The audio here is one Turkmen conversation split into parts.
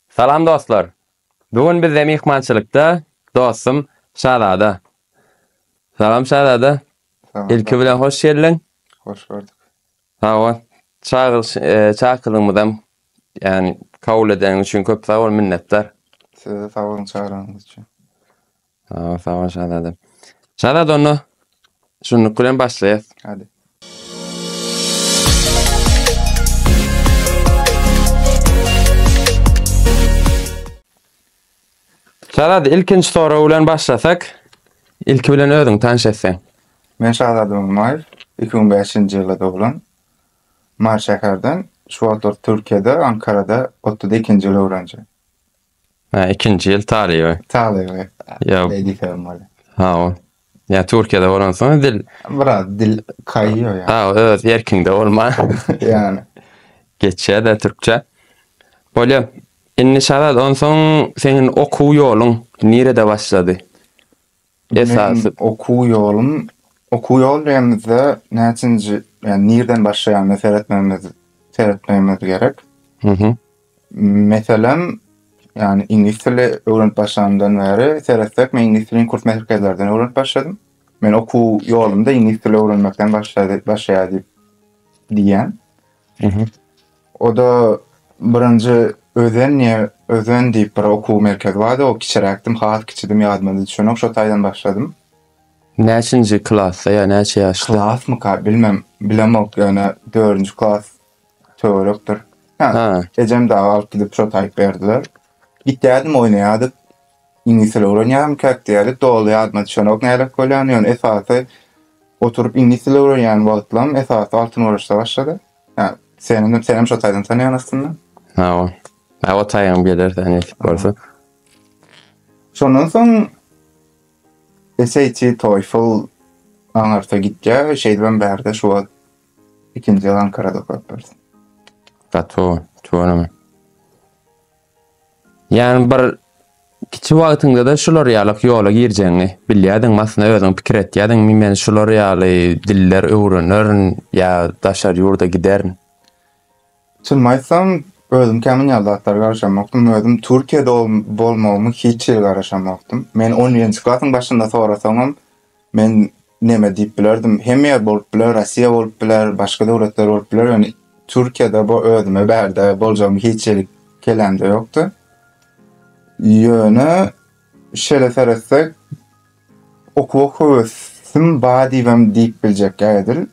Salam dostlar. Bu gün bizde myhmançylykda dostum Şazada. Salam Şazada. Ilki bilen hoş geldiň. Hoş gördük. Sag bol. Çagyryş çakyrygymyzam ýagny kabul edeniň üçin köp sag bol minnetdar. Size sag boluň çagyranyňyz üçin. Aa, sag ol Şazadem. Şazada onda şunluk bilen başlaýas. Hadi. Şazada ilkinji sorag bilen başlasak, ilki bilen özüň tanş etseň. Men Şazada Ummaýew, 2005-nji ýylda doglan. Mary şäherden, şu wagtlar Türkiýede, Ankarada 32-nji ýyl öwrenje. Ha, ikinji ýyl talyby. Talyby. Ýa. Wezipem bolýar. Ha, o. Ýa Türkiýede bolansoň dil. Biraz dil kaýýar ýa. Ha, öz erkiňde bolma. Ýani. Geçýär-de türkçe. Bolýar. Indi Şazat, onsoň seniň okuw ýoluň nirede başlady? Esasy okuw ýolum, okuw ýol diýenimizde näçinji, ýani nirden başlaýanyna seretmegimiz, seretmegimiz gerek. Mhm. Meselem, ýani iňlis dili öwrenip başlanymdan bäri seretsek, men iňlis dilini kurs merkezlerden öwrenip başladym. Men okuw ýolumda iňlis dili öwrenmekden başlady, başlaýar diýip diýýän. O-da birinji Özen ýe Özen diýip bir okuw merkezi bardy. O kiçiräkdim, has kiçidim, ýadyma düşenok. Şo taýdan başladym. Näçinji klasda ýa näçe ýaşda? Klasmyka, bilmem, bilemok, ýöne dördünji klas töwerekdir. Hä, ejem dagy alyp gidip şo taýyp berdiler. Gitýärdim oýnaýardyk. Iňlis dili öwrenýärmikäk diýerlik doly ýadyma düşenok nälet bolýan, ýöne esasy oturyp iňlis dili öwrenýän wagtlaym esasy Altyn Oraçda başlady. Hä, senem senem şo taýdan tanýan aslynda. Hawa. Hä, o taýyňam geler sen nesip bolsa. Şondan soň SAT, TOEFL aňarta gitýär. Şeýdibem bärde şu wagt Ikinji ýyl Ankarada okapdyrys. Gaty tuganam. Ýani bir kiçi wagtyňda-da şular ýalyk ýola girjegiňi bilýärdiňmi? Aslynda özüň pikir etýärdiňmi, men şular ýaly diller öwrenerin ýa daşary ýurda giderin? Çynymy aýtsam, özüm kän munýan zatlara garaşamokdym. Özüm Türkiýede bolmagymy hiç hili garaşamokdym. Men on birinji klasyň başynda sorasaňam, men Neme diýip bilerdim? Hemme ýer bolup biler, Rossiýa bolup biler, başga döwletler bolup biler, ýöne Türkiýede bu özüme bärde boljagymy hiç edip kelamda ýokdy. Ýöne şeýle seretsek, okuwa höwesim bar diýibem diýip biljek edil.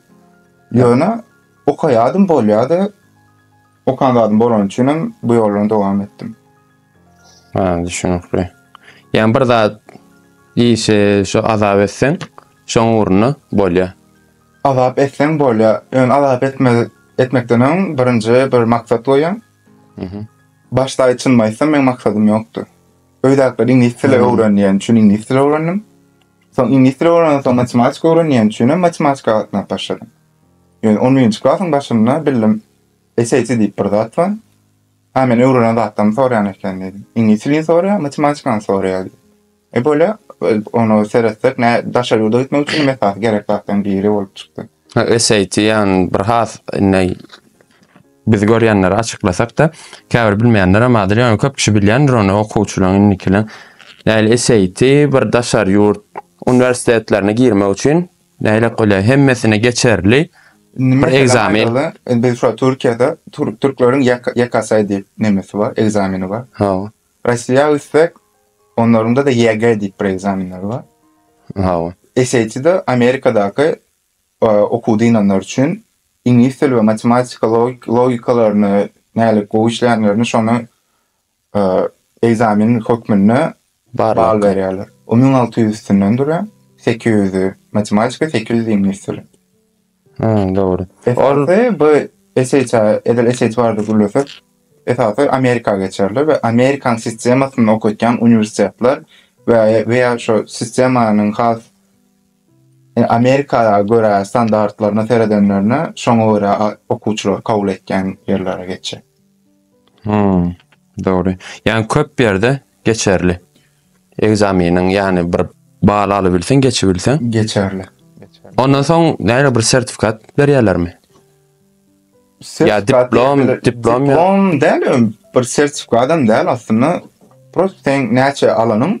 Ýöne okaýardym bolýardy. Okan zadym bolany üçinem bu ýoldan dowam etdim. Ha, düşünükli. Yani bir zat işe şu azap etsen, şoň ugruna bolýar. Azap etsen bolýar. Ýöne azap etme, etmekden öň birinji bir maksat goýaň. Mhm. Başda çyn aýtsam, meň maksadym ýokdy. Öýdäkler iňlis dili öwrenýän üçin iňlis dili öwrendim. Soň iňlis dili öwrenen soň matematika öwrenýän üçin hem matematika gatnap başladym. Ýöne 11-nji klasyň başynda bildim SAT diýip bir zat bar. Hä men öwrenen zatlarmy soraýan eken diýdi. Iňlis dilini soraýar, matematikany soraýar diýdi. E bolýa, ony seretsek nä daşary ýurda gitmek üçin esasy gerek zatlaryň biri bolup çykdy. SAT ýan bir has indi biz görýänleri açyklasak-da, käbir bilmeýänler hem bardyr, ýöne köp kişi bilýändir ony okuwçylaryň indikileň. Nähili SAT bir daşary ýurt uniwersitetlerine girmek üçin Nähili bolýar? Hemmesini geçerli. Indi bir ekzamen. Biz şu Türkiýede türkleriň YKS diýip nemesi bar, ekzameni bar. Ha. Russiýa üstek onlarynda da YG diýip bir ekzamenleri bar. Ha. SAT-de Amerikadaky okuw dynanlar üçin iňlis dili we matematika logikalaryny nälik gowy işleýänlerini şony egzamin hökmünde bal berýärler. O müň alty ýüz üstünden durýar. Sekiz ýüzi matematika, sekiz ýüzi iňlis dili. Hmm, dogry. Esasy bu SHA, edil SHA barada gürlesek, esasy Amerika geçerler we Amerikan sistemasyny okatýan uniwersitetler we we ýa şu sistemanyň has Amerika görä standartlaryna seredenlerine şoňa görä okuwçylary kabul etýän ýerlere geçjek. Hmm, dogry. Yani köp yerde geçerli. Egzaminin yani bir bal alıbilsen, geçibilsen. Geçerli. Ondan soň näle bir sertifikat berýärlermi? Ya diplom, diplom, diplom, diplom däl, bir sertifikadam däl aslynda. Prosta sen näçe alanyň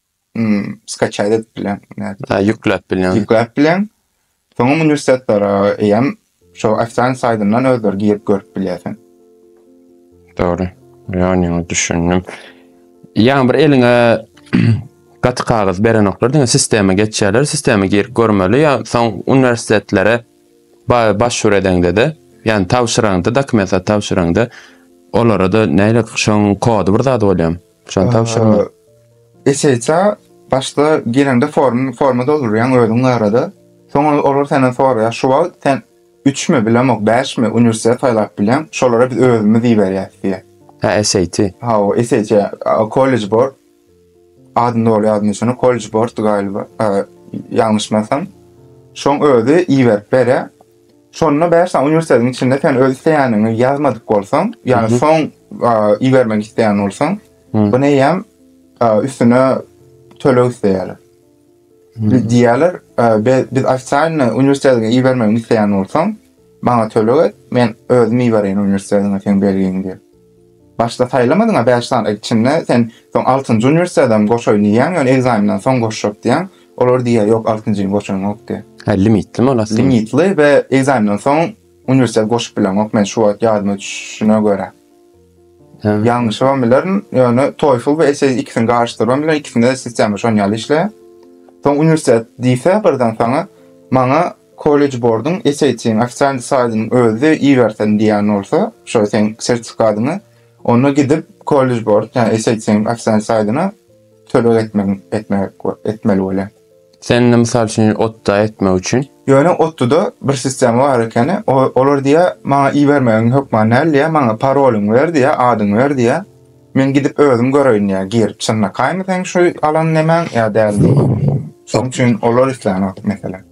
Hmm, skaçaýda edip bilen. Ha, ýükläp bilen. Ýükläp bilen. Soň uniwersitetlara eýem şo ofisan saýdyndan özleri girip görüp bilýärsin. Dogry. Ýöne düşündim. Ýa bir eliňe gaty kagyz berenoklar, diňe sistema geçýärler, sistema girip görmeli, ýa soň uniwersitetlere başwur edeňde-de, ýani tabşyraňda, dokumentleri tabşyraňda, olara-da näýle şoň kody bir zat bolýar. Şony tabşyrma. Eseýsa başda girende formy forma doldurýaň özüň barada. Soňra olar senden soraýar, şu wagt sen üçmi, bilemok, bäşmi uniwersitet saýlap bilýäň, şolara biz özümiz iberýäs diýýär. Hä, SAT. Hawa, SAT, College Board. Adyny doly ýadyma düşenok, College Board galyba, ýalňyşmasam. Şoň özi iberip berýär. Şonda bäş sany uniwersitetiň içinde sen öz isleýäniňi ýazmadyk bolsaň, ýagny soň ibermek isleýän bolsaň, bu neýem üstüne töleg isleýärler. Diýýärler, biz ofitsialny uniwersitetiňe ibermegini isleýän bolsaň, maňa töleg et, men özüm ibereýin uniwersitetiňe seň belgiňi diýip. Başda saýlamadyňa bäş sany içinde sen soň altynjy uniwersitetedem goşaýyn diýýäň ýöne ekzamenden soň goşjak diýýäň olar diýýä ýok altynjyny goşaňok diýýä. Hä limitlymy ol asylym. Limitli we ekzamenden soň uniwersitet goşup bileňok men şu wagt ýadyma düşüşine görä. Hä. Ýalňyşybam bilerin ýöne toefl we essay ikisini garyşdyrybam bilerin ikisinde sistema şon ýaly işleýä. Soň uniwersitet diýse birden saňa maňa College Board-yň SAT-yň ofitsial saýdynyň özi ibersin diýen bolsa, şo seň sertifikatyňy, onda gidip College Board, ýa SAT-yň ofitsial saýdyna töleg etmegiň etmek etmeli bolýar. Sende mysal üçin otda etmek üçin. Ýöne otda-da bir sistema bar ekeni, olar diýýär, maňa ibermegiň hökman däl diýýär, maňa parolyňy ber diýýär, adyňy ber diýýär. Men gidip özüm göreýin diýýär, girip çynlakaýmy seň şu alan nemäň ýa dälmi. Şoň üçin olar islän wagt meselem.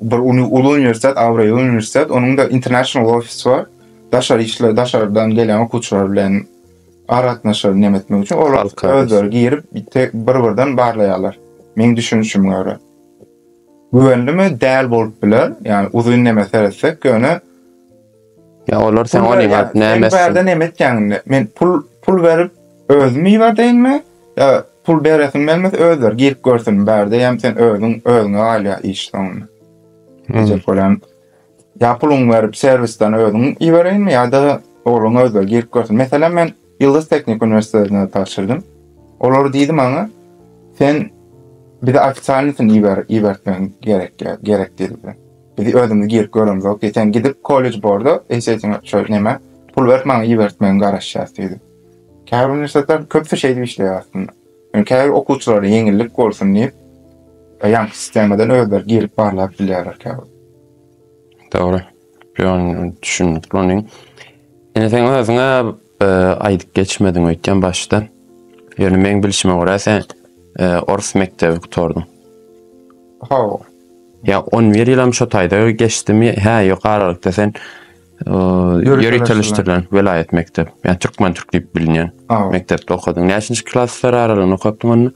bir uly uniwersitet, abraýly uniwersitet, onuň-da international ofisy bar. Daşar işler, daşardan gelen okuwçylar bilen aratnaşygy näme etmek üçin olar özleri girip bir-birden barlaýarlar. Meň düşünişime görä. Güwenlimi? Däl bolup biler. Ýagny uzyn näme seretsek, ýöne Ya olar sen Pul onuň berýän. Sen näme bärde näme etýäň indi? Men pul pul berip özümi iberdeýinmi? Ýa pul beresim gelmese özleri girip görsün bärde ýam sen özüň özüňe galýar iş soňunda. Diyecek bolan. Ya puluň berip serwisden özüň ibereýinmi ýa-da ogluň özleri girip görsün. Meselem men Ýyldyz Teknik Uniwersitetine tabşyrdym. Olar diýdi maňa, Sen bize ofisialnysyny iber, ibertmegiň gerek, gerek diýdi. Biz özümiz girip göremzok diýdi. Sen gidip kollej borda eşeýsene şo näme, pul berip maňa ibertmegiň garaşýas diýdi. Käbir uniwersitetler köpüsi şeýdip işleýär aslynda. Ýöne käbir okuwçylara ýeňillik bolsun diýip, ýaňky sistemadan özleri girip barlap bilýärler käbir. Dogry. Ýöne düşündik muny. Ine sen özüňe e, aýdyp geçmediň öýtýän başda. Ýöne meň bilşime görä sen e, ors mekdebi gutardyň. Hawa. Ya 11 ýylam şo taýda geçdimi? Hä, ýokarlykda sen ýöri tanışdyrylan welaýat mekdep. Ya türkmen türk diýip bilinýän mekdepde okadyň. Näçinji klaslar aralygynda okapdyň onda?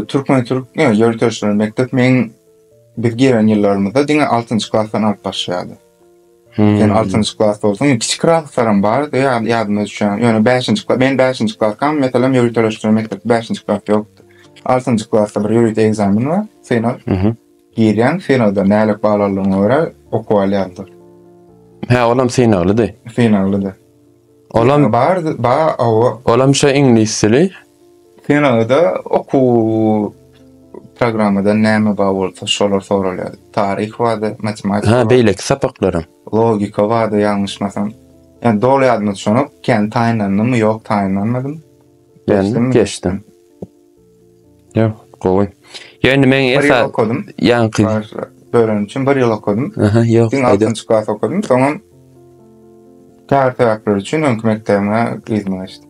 Türkmen türk ýöri tanışdyrylan mekdep meň Biz gelen ýyllarymyzda diňe altynjy klasdan alyp başlaýardy. Sen altynjy klas bolsaň, kiçi klaslarym bardy, ýadyma düşýän. Ýöne bäşinji klas, men bäşinji klasdam, meselem, ýörite öwreşdirme mekdepde bäşinji klas ýokdy. Altynjy klasda bir ýörite ekzamen bar, synag. Girýäň, synagda nälik bal aldygyňa görä okuw alýarlar. Hä, olam synaglydy? Synaglydy. Olam bar ba owo. Olam şo iňlis dili. Kinoda okuw programmadan näme bar bolsa şolar soralýar. Taryh bardy, matematika. Ha beýleki sapaklarym. Logika bardy ýalňyşmasam. Ýa doly ýadyma düşenok. Kän taýynlandymy ýok taýynlanmadym. Geçdim. Geçdim. Ýok, gowy. Ýöne men Bir ýyl okadym. Ýaňky. Dörän üçin bir ýyl okadym. Aha, ýok. Diňe altynjy klas okadym. Soňam käbir sebäpler üçin öňki mekdebime yzyma geçdim.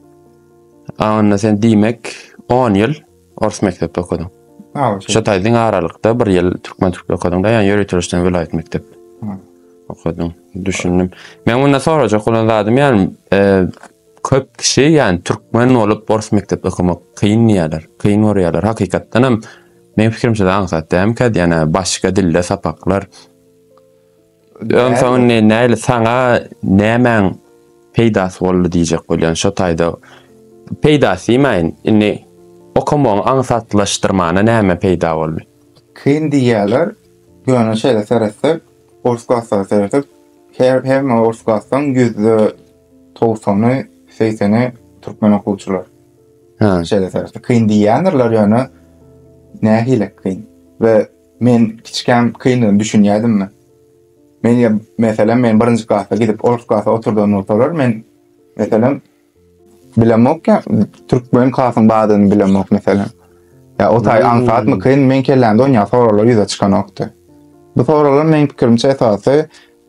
A onda sen diýmek 10 ýyl ors mekdepde okadyň. Ha, şeýle. Şo taýdan aralykda bir ýyl türkmen türkmen okadyň-da, ýa ýöriteleşden welaýat mekdep. Ha. Okadyň. Düşündim. Men munda sorajak bolan zadym ýa Köp kişi ýani türkmen bolup ors mekdepde okamak kyn diýýärler. Kyn görýärler. Hakykatdan hem meň pikirimçe aňsat dälmikä diýýän başga dilde sapaklar. Öň soň indi näli saňa nämäň peýdasy boldy diýjek bolýan şo taýda. Peýdasy diýmäýin. Indi okamagyň aňsatlaşdyrmana näme peýda boldy. Kyn diýýärler. Ýöne şeýle seretsek ors klaslara seretsek her hemme ors klasdan ýüzde Togsany, segseni türkmen okuwçylar. Ha. Şeýle sebäpli kyn diýýändirler ýöne nähili kyn. We men kiçikäm kyndygyny düşünýädim men. Men ýa meselem men birinji klasa gidip ors klasa oturdan bolsalar men meselem bilemok ýa türkmen klasyň bardygyny bilemok meselem. Ýa o taý aňsatmy kyn men kellämde onýa soraglar ýüze çykanokdy. Bu soraglar meň pikirimçe esasy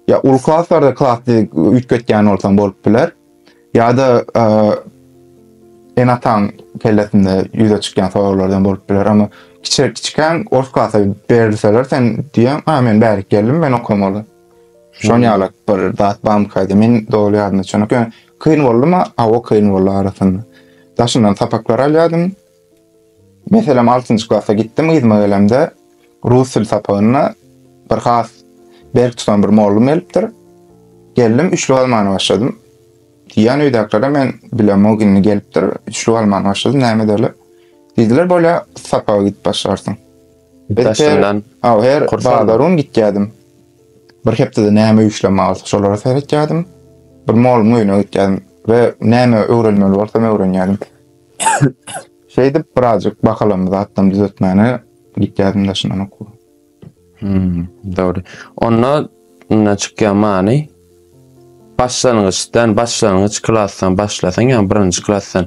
Ýa uly klaslarda klasy üýtgetýän bolsaň bolup biler. Ýa-da enataň kellesinde ýüze çykýan soraglardan bolup biler. Amma kiçir kiçikäň ors klasa berilseler sen diýen, "A, men bärik geldim, men okamaly." Şon ýaly bir zat bam kaýdy. Men doly ýadymda çykyk. Kyn boldumy? Awa, kyn boldy arasynda. Daşyndan sapaklar alýadym. Meselem, altynjy klasa gitdim, yzyma gelemde, rus dil sapagynda bir has berk tutan bir mollum gelipdir. Geldim, üçlük almana başladym. Diýýän öýdäkilere men bilemok indi gelipdir, üçlük almana başladym, näme edeli? Diýdiler, bolýa, sapaga gidip başlarsyň. Daşyndan Aw, her bazar gün gitýärdim. Bir hepdede näme işlem alsa, şolara seretýärdim. Bir mollumyň öýüne gitýärdim we näme öwrenmeli bolsam öwrenýärdim. Şeýdip birazjyk bakalamy zatdan düzetmäne gitýädim daşyndan okuw. Hmm, dogry. Onda indi çykýan many başlangyçdan, başlangyç klasdan başlasaň, ýa birinji klasdan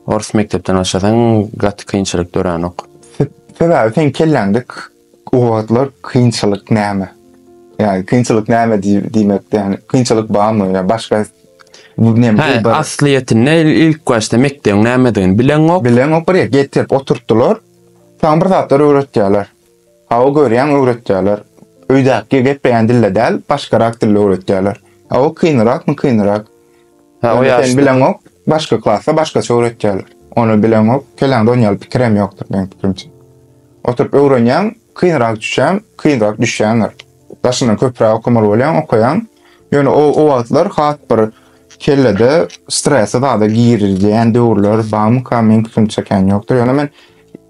ors mekdepden başlasaň gaty kynçylyk döränok. Sebäbi sen kelläňde O wagtlar kynçylyk näme? Ýa kynçylyk näme diýmek, ýa kynçylyk barmy? Ýa başga näme? Aslyýetinde ilk başda mekdebiň nämedigini bileňok. Bileňok, bir ýere getirip oturtdylar. Saňa bir zatlar öwretýärler. Hawa görýäň öwretýärler. Öýdäki gepleýän dilde däl, başgarak dilde öwretýärler. Hawa kynyrakmy kynyrak. Ha, o ýaşda. Bileňok, başga klasda başgaça öwretýärler. Ony bileňok, kelläňde ony ýaly pikir hem ýokdur meniň pikirimçe. Oturyp öwrenýäň, kynrak düşýän, kynrak düşýäňdir. Daşyndan köpräk okamaly bolýaň, okaýaň. Ýöne o, o wagtlar has bir kellede stresi zada girizýän döwürler barmyka, meniň pikirimçe kän ýokdur. Ýöne men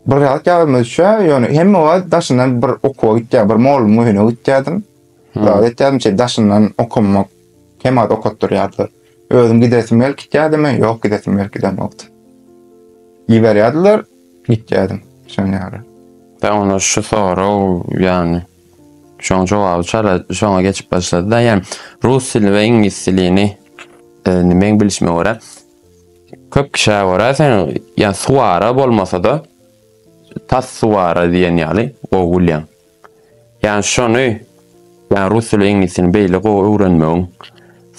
bir zat ýadyma düşýär, ýöne hemme wagt daşyndan bir okuwa gitýär, bir mugallymyň öýüne gitýärdim. Dagy etýärdim şeý daşyndan okamak hem az okatdyrýardylar. Özüm gidesim gelip gitýädimi? Ýok gidesim gelip gidenokdy. Iberýärdiler gitýädim şonuň ýaly. Dagy onda şu sorag ýagny şoň jogaby çala şoňa geçip başlady-da ýa rus dili we iňlis dilini indi meň bilişime görä köp kişä görä sen ýa suwara bolmasa-da tas suwara diýen ýaly gowy bilýäň. Ýani şony ýa rus dili iňlisini beýle gowy öwrenmegiň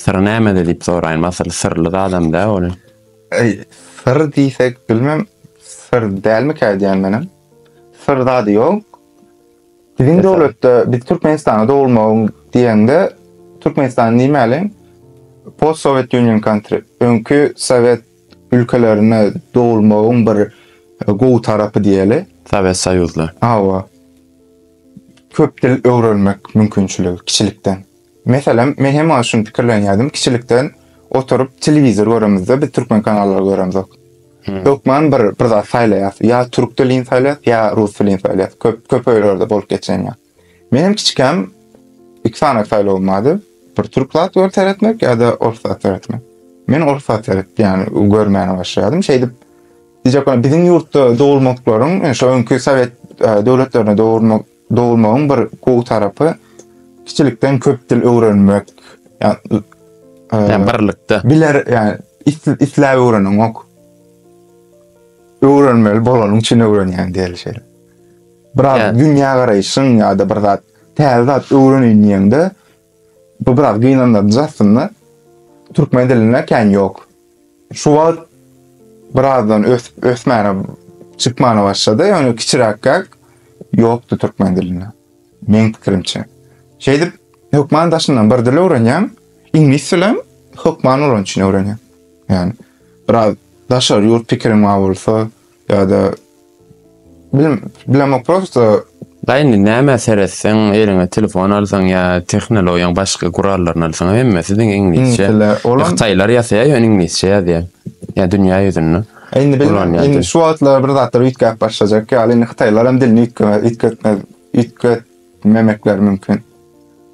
syry nämede diýip soraýyn asyl syrly zadam dä ol. Eý syr diýsek bilmem syr dälmikä edýän menem. Syr zady ýok. Biziň döwletde biz Türkmenistana dogulmagyň diýeňde Türkmenistan diýmäliň post sowet union country öňki sowet ülkelerine dogulmagyň bir gowy tarapy diýeli. Sowet Soýuzly. Hawa. Köp dil öwrenmek mümkinçiligi kiçilikden. Meselem, men hem maňa şuny pikirlenýärdim, kiçilikden oturyp telewizor göremizde biz türkmen kanallary göremzok. Hökman bir bir zat saýlaýas. Ýa türk dilini saýlaýas, ýa rus dilini saýlaýas. Köp köp öýlerde bolup geçen ýa. Menem kiçikäm iki sany saýlawym bardy. Bir türk zat görüp seretmek ýa-da ors zat seretmek. Men ors zat seretdim, ýani görmäne başladym. Şeýdip, diýjek bolan biziň ýurtda dogulmaklaryň, e, şo öňki sowet e, döwletlerine dogulmak dogulmagyň bir gowy tarapy kiçilikden köp dil öwrenmek, ýani e, birlikde. Biler, ýani isläp öwreniň ok. Öwrenmeli bolanyň üçin öwrenýän diýeli şeýle. Biraz yeah. dünya garaýşyň ya da bir zat täze zat öwreneýin diýende bu biraz gynandyryjy aslynda. Türkmen dilinde kän ýok. Şu wagt birazdan ös ösmäne çykmana başlady. Ýöne kiçiräkkäk ýokdy türkmen dilinde. Meň pikirimçe. Şeýdip hökman daşyndan bir dil öwrenýän, iňlis dilem hökman onuň üçin öwrenýän. Ýani biraz daşary ýurt pikiriň bolsa, Ya da bilim bilemok prosto Da indi näme seretseň, eliňe telefon alsaň ýa tehnologiýaň başga gurallaryny alsaň hemmesi diňe iňlisçe. Iňlisçe, olam- Hytaýlar ýasaýar ýöne iňlisçe ýazýar. Ýa dünýä ýüzünde. E, Indi bilmem, Ulan ýaly. indi şu wagtlar bir zatlar üýtgäp başlajak ýaly, indi hytaýlar hem dilini üýtgemez, üýtgetmez, üýtgetmemekleri mümkin.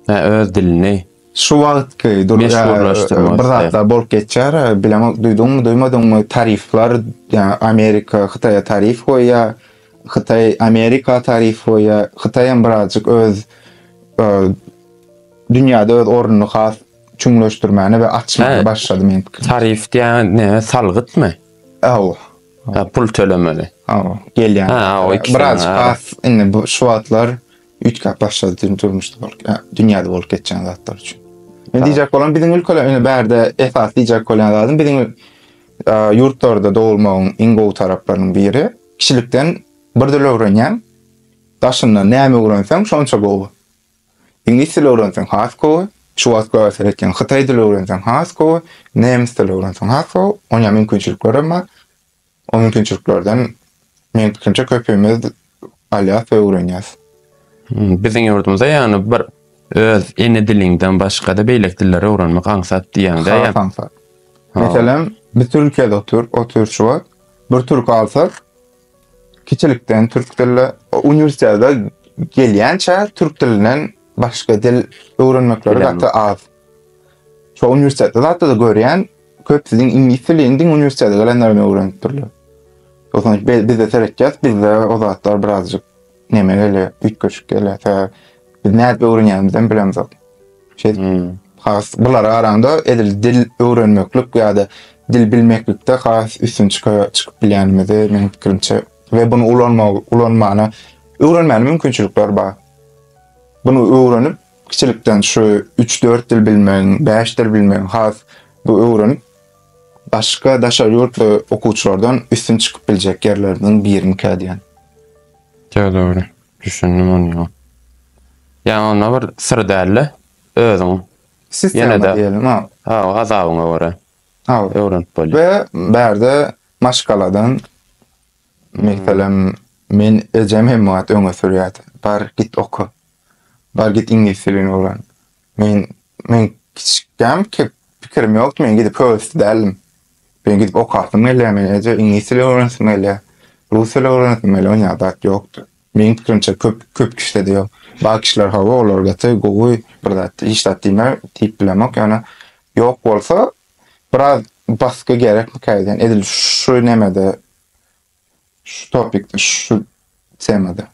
Hä, öz dilini. Şu wagtky dur meşhurlaşdyrma bir zatlar bolup geçýär. Bileňok duýduňmy, duýmadyňmy? Tarifler, ýa Amerika Hytaýa tarif goýýa, Hytaý Amerika tarif goýýa. Hytaý hem birazjyk öz dünýäde öz ornuny has çuňlaşdyrmäne we açmaga başlady men pikir. Tarif diýen ne, salgytmy? Aw. Ha, pul tölemeli. Aw, gelýän. Ha, biraz has indi bu şu wagtlar Üýtgäp başlady dür durmuşda bolup, ýa dünýäde bolup geçýän zatlar üçin. Men diýjek bolan biziň ülkede ine bärde esas diýjek bolýan zadym biziň ýurtlarda dogulmagyň iň gowy taraplarynyň biri kişilikden bir dil öwrenýäň. Daşyndan näme öwrenseň şonça gowy. Iňlis dili öwrenseň has gowy. Şu wagt görsel etýän hytaý dili öwrenseň has gowy. Nemes dili öwrenseň has gowy. Oňa mümkinçilikler hem bar. O mümkinçiliklerden meň pikirimçe köpimiz alýas we öwrenýäs. Biziň ýurdumyzda ýagny bir öz ene diliňden başgada beýleki dilleri öwrenmek aňsat diýýäňdä. Has aňsat. Meselem biz Türkiýede otur, otur şu wagt bir türki alsak kiçilikden türk dille uniwersitete gelýänçä türk dilinden başga dil öwrenmekleri gaty az. Şo uniwersitete zatda-da görýän Köp siziň iňlis dili indiň uniwersitete gelenlerden öwrenip durlar. Ozan bizde seretjek, bizde o zatlar birazjyk neme gelýär, üýtgeşik gelýär. Sä biz nädip öwrenýänimizden bilemzok. Şey, hmm. has bulara garanda edil dil öwrenmeklik ýa-da dil bilmeklikde has üstün çyka, çykyp bilýänimizi meniň pikirimçe we bunu ulanma, ulanmana öwrenmäne mümkinçilikler bar. Bunu öwrenip Kiçilikden şu üç-dört dil bilmegiň, bäş dil bilmegiň has bu öwrenip, başga daşary ýurtly okuwçylardan üstün çykyp biljek ýerleriniň birimikä diýen. Ýok, dogry. Düşündim ony. Ýaňy onda bir syr dälde, özüň Sistema diýelim, ha. Ha, gazabyňa görä. Ha. Öwrenip bolýar. We bärde maşgaladan, meselem, men ejem hem wagt öňe sürýärdi. Bar, git oka. Bar git iňlis dilini öwren. Men men kiçikkäm kep pikirim ýokdy, men gidip höwesli däldim. Men gidip okasym gelýär, men eje iňlis dili öwrenesim gelýär. Rus dili öwrenesim gelýär, onýa zat ýokdy. Meň pikirimçe köp köp kişide-de ýok. Bar kişiler hawa olar gaty gowy, bir zat hiç zat diýme diýip bilemok, ýöne ýok bolsa biraz basgy gerekmikä diýýän. Edil şu nemede Şu topikde, şu temada.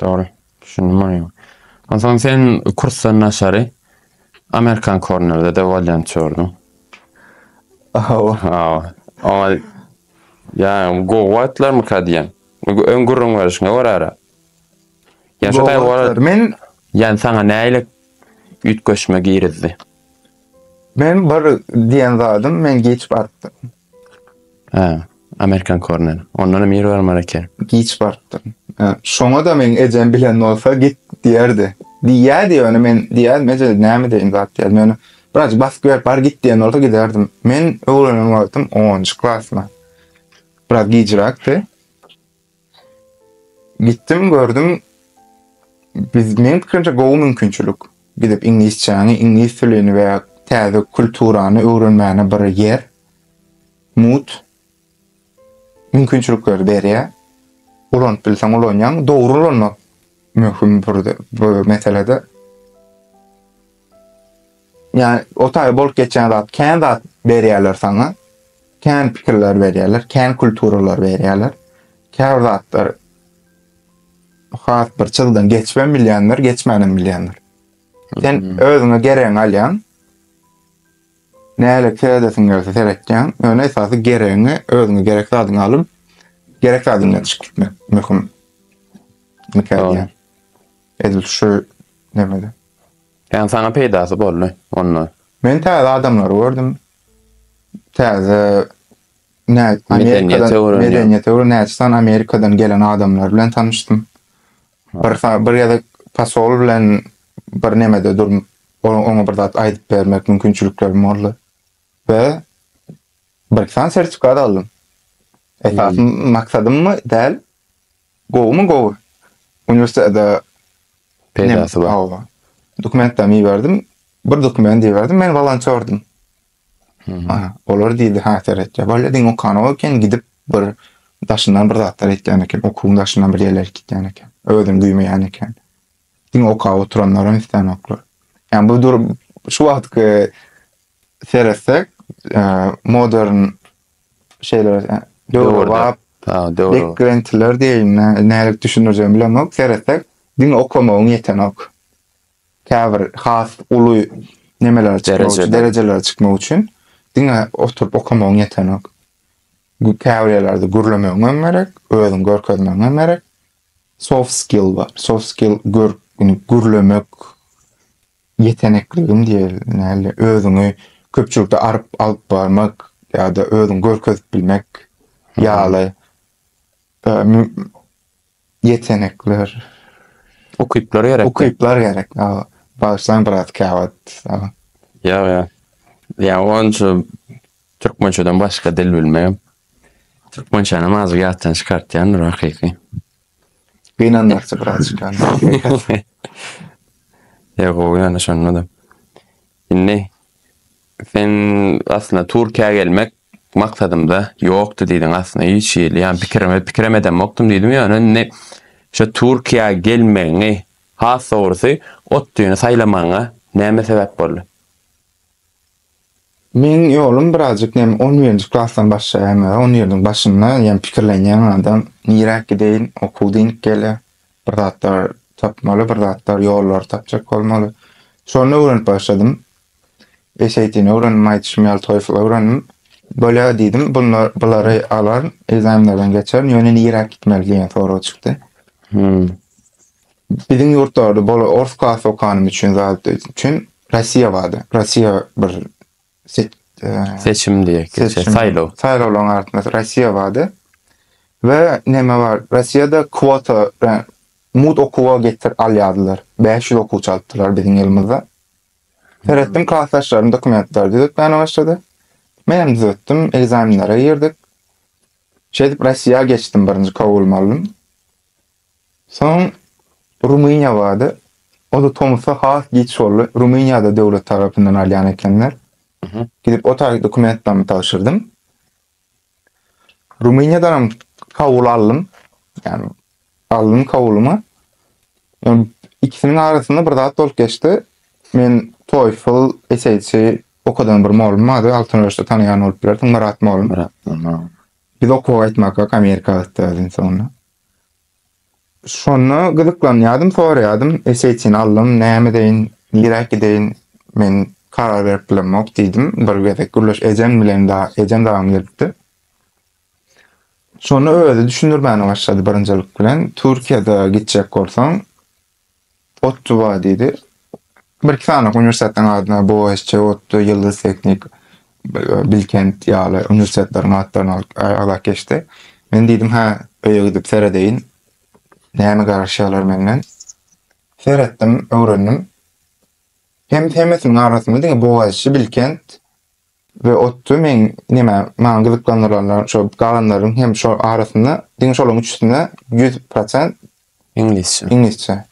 Dogry. Düşündim ony. Onsoň sen kursdan daşary Amerikan kornerde-de bolýançy gördüm. Hawa. Hawa. Oňa ýa gowy wagtlarmyka diýen. Öň gürrüň berişiňe görä-de. Ýa şu taý wara men ýa saňa näile üýtgeşme girizdi. Men bir diýen zadym men geçip atdym. Hä, amerikan korneri. Ondanam ýer bar Mareke. Giç barypdyr. Şoňa-da meň ejem bilen bolsa git diýerdi. Diýýärdi ýöne men diýýärdim, eje näme deýin zat diýýärdim. Ýöne birazajyk basyp berip bar git diýen bolsa giderdim. Men öwrenen wagtym onunjy klasma. Biraz gijräkdi. Gitdim gördüm biz men pikrimçe gowy mümkinçilik. Gidip iňlisçäňi, iňlis tilini we täze kulturany öwrenmäne bir ýer. Mut mümkinçilikleri berýär. Ulanyp bilseň ulanýaň, dogry ulanmak möhüm burde bu meselede. Yani o tabi bolup geçen zat, kän zat berýärler sana, kän pikirler berýärler, kän kulturalar berýärler. Kär zatlar has bir çyzdan geçmem bilýänler, geçmänem bilýänler. Sen hmm. özüňe geregiň alýan, näle seredesiň gelse seretýän, ýöne esasy geregiňi, özüňe gerek zadyňy alyp, gerek zadyňdan çykyp gitmek möhüm. Mükemmel. Edil şu nemede. Ýagny saňa peýdasy boldy onda. Men täze adamlary gördüm. Täze nä Amerikadan medeniýete öwren näçe sany Amerikadan gelen adamlar bilen tanyşdym. Bir bir ýa-da posol bilen bir nemede durup, oňa bir zat aýdyp bermek mümkinçiliklerim boldy. We bir sany sertifikat aldym. Esasy maksadymmy däl, Gowumy gowy. Uniwersitede peýdasy bar. Hawa. Dokumentlerimi iberdim. Bir dokumenti iberdim. Men wolontýordum. Aha, olar diýdi, ha seret. Bolýa diň okanyň eken, gidip bir daşyndan bir zatlar etýän eken, okuwyň daşyndan bir ýerler gitýän eken. Özüni duýmaýan eken. Diňe okap oturanlaram islenoklar. Yani bu durum şu wagtky seretsek modern şeyler döwürde beklentiler deyin nälik düşünürjemi bilemok seretsek diňe okamagyň yetenok. Käbir has uly nemeler çıkmak derejeler çıkmak üçin diňe oturup okamagyň yetenok. Käbir yerlerde gürlemegiň hem gerek, özüň görkezmegiň hem gerek. Soft skill bar. Soft skill gör, indi gürlemek ýetenekligim diýeli, näli, özüňi köpçülikde aryp alyp barmak ýa-da özüňi görkezip bilmek ýaly ýetenekler. Ukyplar gerek. Ukyplar gerek. Bagyşlaň biraz käwagt. Ýa-ýa. Ýa-ýa onça Türkmençeden başga dil bilmegem türkmençänem azgy ýatdan çykartýandyr hakyky. Gynanýarça birazjyk ýaly. Ýa gowy ýöne şonda-da. Indi sen aslynda Türkiýä gelmek maksadymda ýokdy diýdiň aslynda hiç hili ýa pikirime pikirem edemokdym diýdim ýöne indi şu Türkiýä gelmegiňi has dogrusy ot düýni saýlamagyňa näme sebäp boldy? Meň ýolum birazjyk näme on birinji klasdan başlaýan we on ýerden başynda ýa pikirlenýän adam niräk gideýin okuw diňk gelýär bir zatlar tapmaly bir zatlar ýollary tapjak bolmaly şony öwrenip başladym SAT-ni öwrendim aýdyşym ýaly TOEFL öwrendim bolýa diýdim bunlar bulary alaryn ekzamenlerden geçerin ýöne niräk gitmeli diýen sorag çykdy. Hmm. Biziň ýurtlarda bol ors kasy okanym üçin zat üçin Rossiýa bardy. Rossiýa bir se- eee, Seçim diýek, geçe, seçim, saýlaw. Saýlawlaryň artynda Rossiýa bardy. We näme bar? Rossiýada kwota, e, mugt okuwa getir al ýazdylar. Bäş ýüz okuwçy alypdylar biziň ýylymyzda. Seretdim, klasdaşlarym dokumentlary düzetmäne başlady. Menem düzetdim, ekzamenlere girdik. Şeýdip Rossiýa geçdim, birinji kabul aldym. Soň Rumyniýa bardy. O-da tomusda has giç boldy. Rumyniýada döwlet tarapyndan alýan ekenler. Gidip o taýy dokumentlerimi tabşyrdym. Rumyniýadan hem kabul aldym. Ýani aldym kabulumy. Ýöne ikisiniň arasynda bir zat bolup geçdi. Men TOEFL, SAT okadan bir molum bardy. Altyn Öreşde tanaýan bolup bilersiň, Myrat molum. Biz okuwa gaýtmaka Amerika gitdi öziň soňunda. Şonda gyzyklanýardym, soraýardym, Eseýçini aldym, näme edeýin, niräk gideýin, men karar berip bilemok diýdim. Bir gezek Gülleş ejem bilen dagy, ejem dagam gelipdi. Şonda özi düşündirmäne başlady birinjilik bilen, Türkiýede gitjek bolsaň, Otdy bar diýdi. Bir iki sany uniwersitetiň adyna BOSC, Otdy, Ýyldyz Teknik, Bilkent ýaly uniwersitetleriň atlaryny alyp aýlap geçdi. Men diýdim, hä, öýe gidip seredeýin. Näme garaşýarlar menden. Seretdim, öwrendim. Hem hemmesiniň arasynda diňe BOSC, Bilkent, we otdy meň neme maňa gyzyklandyranlar şo galanlaryň hem şo arasynda diňe şolaryň üçüsine ýüz prosent iňlisçe iňlisçe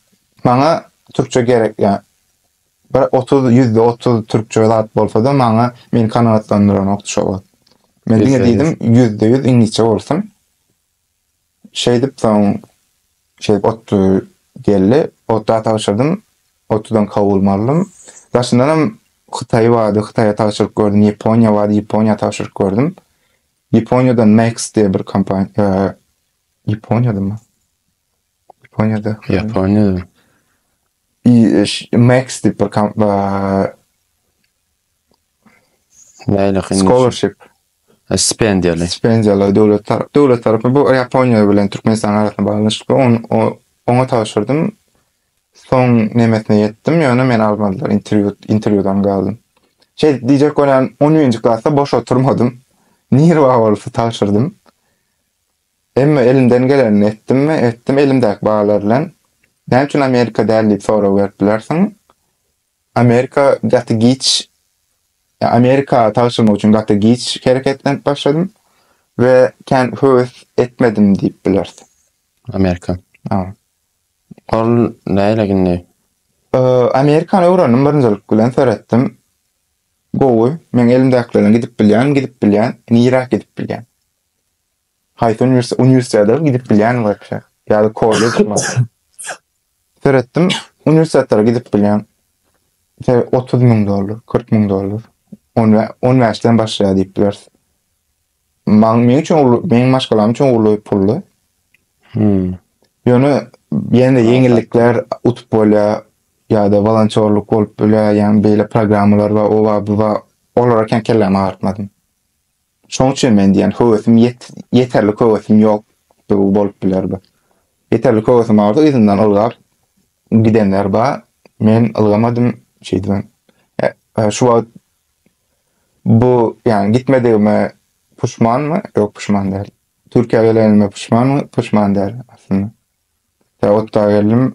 maňa türkçe gerek ýa bir otuz ýüzde otuz türkçe zat bolsada maňa meni kanagatlandyranokdy şo wagt men diňe diýdim ýüzde ýüz iňlisçe bolsun Şeýdip soň şeýdip otly geldi. Ota tabşyrdym. Otlydan kabul aldym. Daşyndanam Hytaý bardy, Hytaýa tabşyryk gördüm, Ýaponiýa bardy, Ýaponiýa tabşyryk gördüm. Ýaponiýadan Max diýen bir kompaniýa Ýaponiýadamy? Ýaponiýada. Ýaponiýada. Max diýip bir kompaniýa Nähili kyn? Scholarship. Stipendiýaly. Stipendiýaly döwlet tarap döwlet tarapy bu Ýaponiýa bilen Türkmenistan arasynda baglanyşykly. On, o, oňa tabşyrdym. Soň nemesine ýetdim, ýöne meni almadylar, interwýu interwýudan galdym. Şey diýjek bolýan 10-njy klasda boş oturmadym. Nirwa bolsa tabşyrdym. Emma elimden gelenini etdimmi? Etdim elimdäki bahalar bilen. Näme üçin Amerika däl diýip sorag berip bilersiň. Amerika gaty giç, ýa Amerika tagşyrmak üçin gaty giç hereketlenip başladym we kän höwes etmedim diýip bileris. Amerika. Ýa. Ol näle gindi? Ýa, Amerikany öwrendim birinjilik bilen seretdim. Gowy, meň elimdäkilerden gidip bilýän, gidip bilýän, niräk gidip bilýän. Haýsy uniwersitet, uniwersitetlara gidip bilýän bolsa, ýa-da kollej mi? Seretdim, uniwersitetlara gidip bilýän. Tä 30 müň dollar, 40 müň dollar. 15 den başlaýar diýip biler. Maň meň üçin uly, meň maşgalam üçin uly puldy. Hmm. Ýöne ýene ýeňillikler utup bolýar ýa-da volontýorlyk bolup bilýär, ýa-da beýle programmalar we owa bu we olara kän kellämi agyrtmadym. Şoň üçin men diýen höwesim ýeterlik höwesim ýokdugy bolup biler bu. Ýeterlik höwesim bardy, yzymdan ylgap gidenler bar. Men ylgamadym, şeýdibem. Şu wagt bu, ýagny gitmedigime puşmanmy? Ýok, puşman däl. Türkiýä gelenime puşmanmy? Puşman däl aslynda. Tä otda geldim,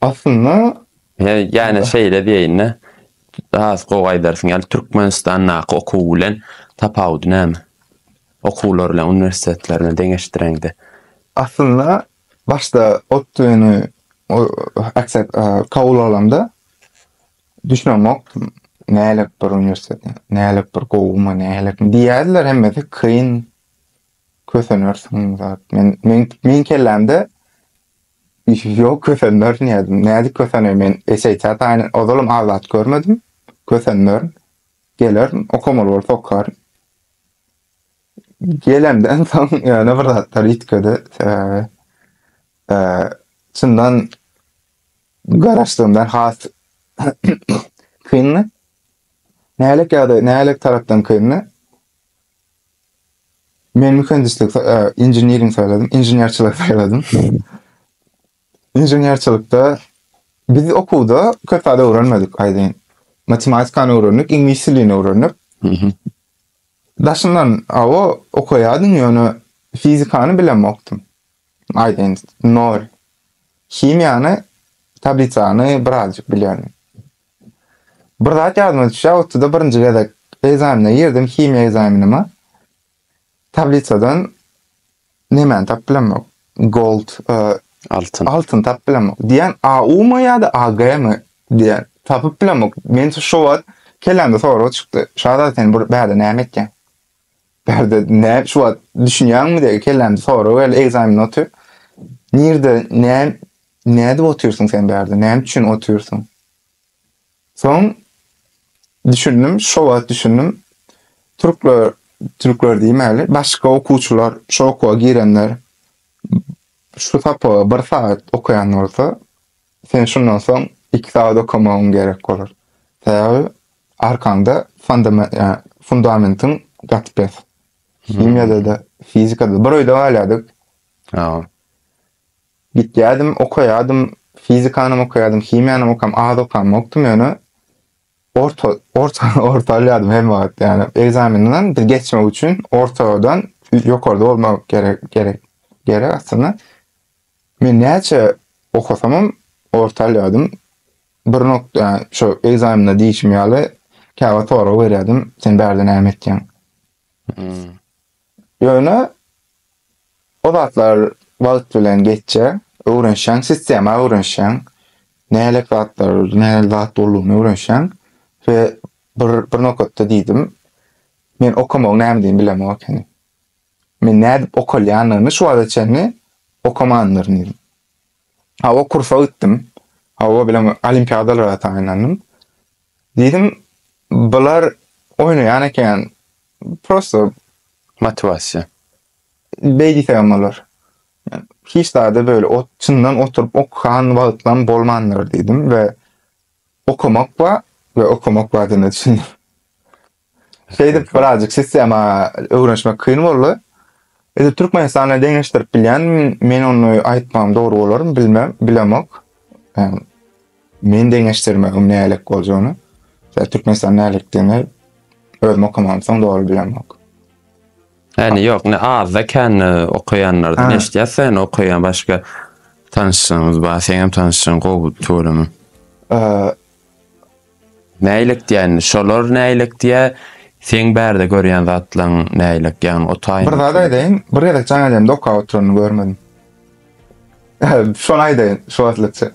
Aslynda He, ýa-da şeýle diýeýin-de, has gowy aýdarsyň, ýaly Türkmenistandaky okuw bilen tapawudy näme? Okuwlar bilen uniwersitetlerini deňeşdireňde. Aslynda başda ODTÜ-ni kabul alanda düşünemokdym. Nälik bir uniwersitet, nälik bir gowumy, nälikmi diýýärdiler, hemmesi kyn, kösenersiň zat. Men, meň, meň kellämde Ýok, kösenmerin diýýärdim. Nädip köseneý men eşeýtä taýyn ozalam azat görmedim. Kösenmerin. Gelerin, okamaly bolsa okaryn. Gelemden soň ýöne bir zatlar üýtgedi. Sebäbi e, çyndan garaşdygymdan has kyndy. Nälik ýagdaý, nälik tarapdan kyndy? Men mühendislik, inženering saýladym, inženerçilik saýladym. Inženerçilikde biz okuwda köp zat öwrenmedik aýdyn. Matematikany öwrendik, iňlis dilini öwrendik. Daşyndan awa okaýardym, ýöne fizikany bilemokdym. Aýdyn, nol. Himiýany, tablisany birazjyk bilýärdim. Bir zat ýadyma düşýär, otda birinji gezek ekzamene girdim, himiýa ekzamenime. Tablisadan nemäni tapyp bilemok. Gold, e, altyn. Altyn tapyp bilemok. Diýen AU mu ýa-da AG mi diýen tapyp bilemok. Men şu wagt kellämde sorag çykdy. Şada sen bir bärde näme etýän? Bärde ne şu wagt düşünýäňmi diýip kellämde sorag geldi. Ekzamen otyr. Nirde ne nädip otyrsyň sen bärde? Näme üçin otyrsyň? Soň düşündim, şu wagt düşündim. Türkler türkler diýmäli, başga okuwçylar şu okuwa girenler şu sapaga bir sagat okaýan bolsa, Sen şundan soň iki sagat okamagyň gerek bolar. Sebäbi arkaňda fundamentiň gaty pes. Himiýada-da, fizikada-da. Bir öýde galýardyk. Gitýärdim, okaýardym, fizikanam okaýardym, himiýanam okam, az okam ýokdum ýöne orta orta orta alýardym her wagt. Ýani ekzamenden bir geçmek üçin ortadan ýokarda bolmak gerek gerek gerek aslynda. Men näçe okasamam orta alýardym. Bir nokda şu ekzamende diýişim ýaly käwagt sorag berýärdim, sen bärde näme etýäň? Hmm. Ýöne o zatlar wagt bilen geçýär, öwrenişýäň, sistema öwrenişýäň. Nälik zatlar, nälik zat boldugyny öwrenişýäň we bir bir nokatda diýdim, men okamagyň näme diýdigiňi bilemok ekeni. Men nädip okalýanyny şu wagta çenli okamandyr diýdim. Hawa, kursa gitdim. Hawa bilen olimpiadalara taýynlandym. Diýdim, bular oýnaýan eken. Prosto motiwasiýa. Beý diýsegem bolar. Hiç zada böyle ot, çyndan oturyp okan wagtlam bolmandyr diýdim we okamak bar we okamak bardygyna düşündim. Şeýdip birazjyk sistema öwrenişmek kyn boldy. Edip Türkmenistana deňeşdirip bilýän, men ony aýtmagym dogry bolarmy bilmem, bilemok. Yani, men deňeşdirmegim nälik boljagyny, yani, Türkmenistan nälikdigini özüm okamagam soň dogry bilemok. Yani yok, ne azda kän okayanlardan eşitýär sen okaýan başga tanşyňyz bar, seňem tanşyň gowy tuweleme. Näýlek diýen, şolar näýlek diýä, seň bärde görýän zatlaň näýlek ýagny o taýyn. Bir zat aýdaýyn, bir gezek jaň elimde okap oturanyny görmedim. Şony aýdaýyn, şu wagtlyça.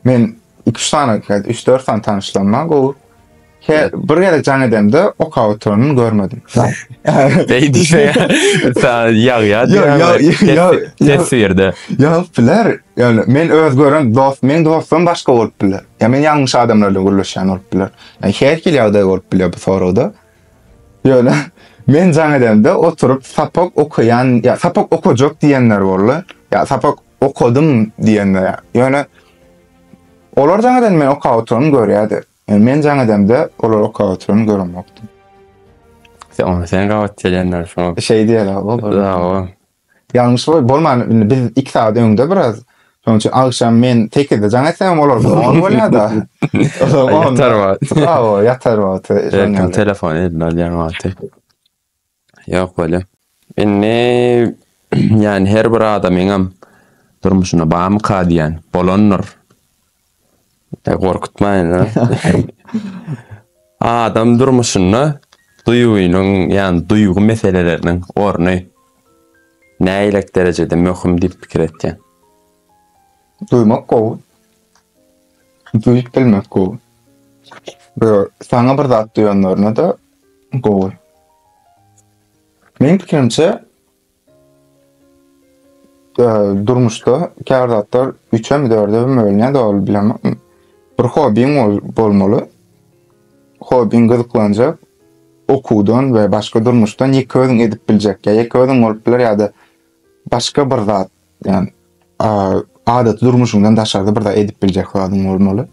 Men iki-üç sany, üç-dört sany tanyşlarym bar gowy. He, bir gezek jaň edemde okap oturanyny görmedim. Beý diýse, sen ýag-ýag diýýär. Ýag-ýag. Teswirde. Ýagyp biler, Ýöne men öz gören dost, meň dostum başga bolup biler. Ýa men ýalňyş adamlar bilen gürleşýän bolup biler. Ýa her hili ýagdaý bolup bilýär bu soragda. Ýöne men jaň edemde oturyp sapak okaýan, ýa sapak okajak diýenler boldy. Ýa sapak okadym diýenler. Ýöne olar jaň edende men okap oturany görýärdi. Ýöne men jaň edemde olar okap oturany göremokdy. Sen gabat gelýänler şoňa. Şeý diýerler. Dawa. Ýalňyş boýup bolman indi biz iki sagat öňde biraz. Şonuň üçin agşam men sekizde jaň etsemem olar on bolýada. Ýatar wagt. Hawa, ýatar wagty. Erkin telefon eline alýan wagty. Ýok bolýa. Indi ýani her bir adamyňam durmuşynda barmyka diýýän. Bolandyr. E, gorkutmaýyn. Adam durmuşynda duýgynyň, ýani duýgy meseleleriniň orny näýlek derejede möhüm diýip pikir etýän? Duýmak gowy. Duýup bilmek gowy. Bu saňa bir zat duýanlaryna-da gowy. Meniň pikirimçe, durmuşda käbir zatlar üçem dördem bölünýär ol bilen bir hobbiň bolmaly hobbiň gyzyklanjak okuwdan we başga durmuşdan ýeke özüň edip biljek ýa ýeke özüň bolup biler ýa-da başga bir zat ýani adaty durmuşyňdan daşarda bir zat edip biljek zadyň bolmaly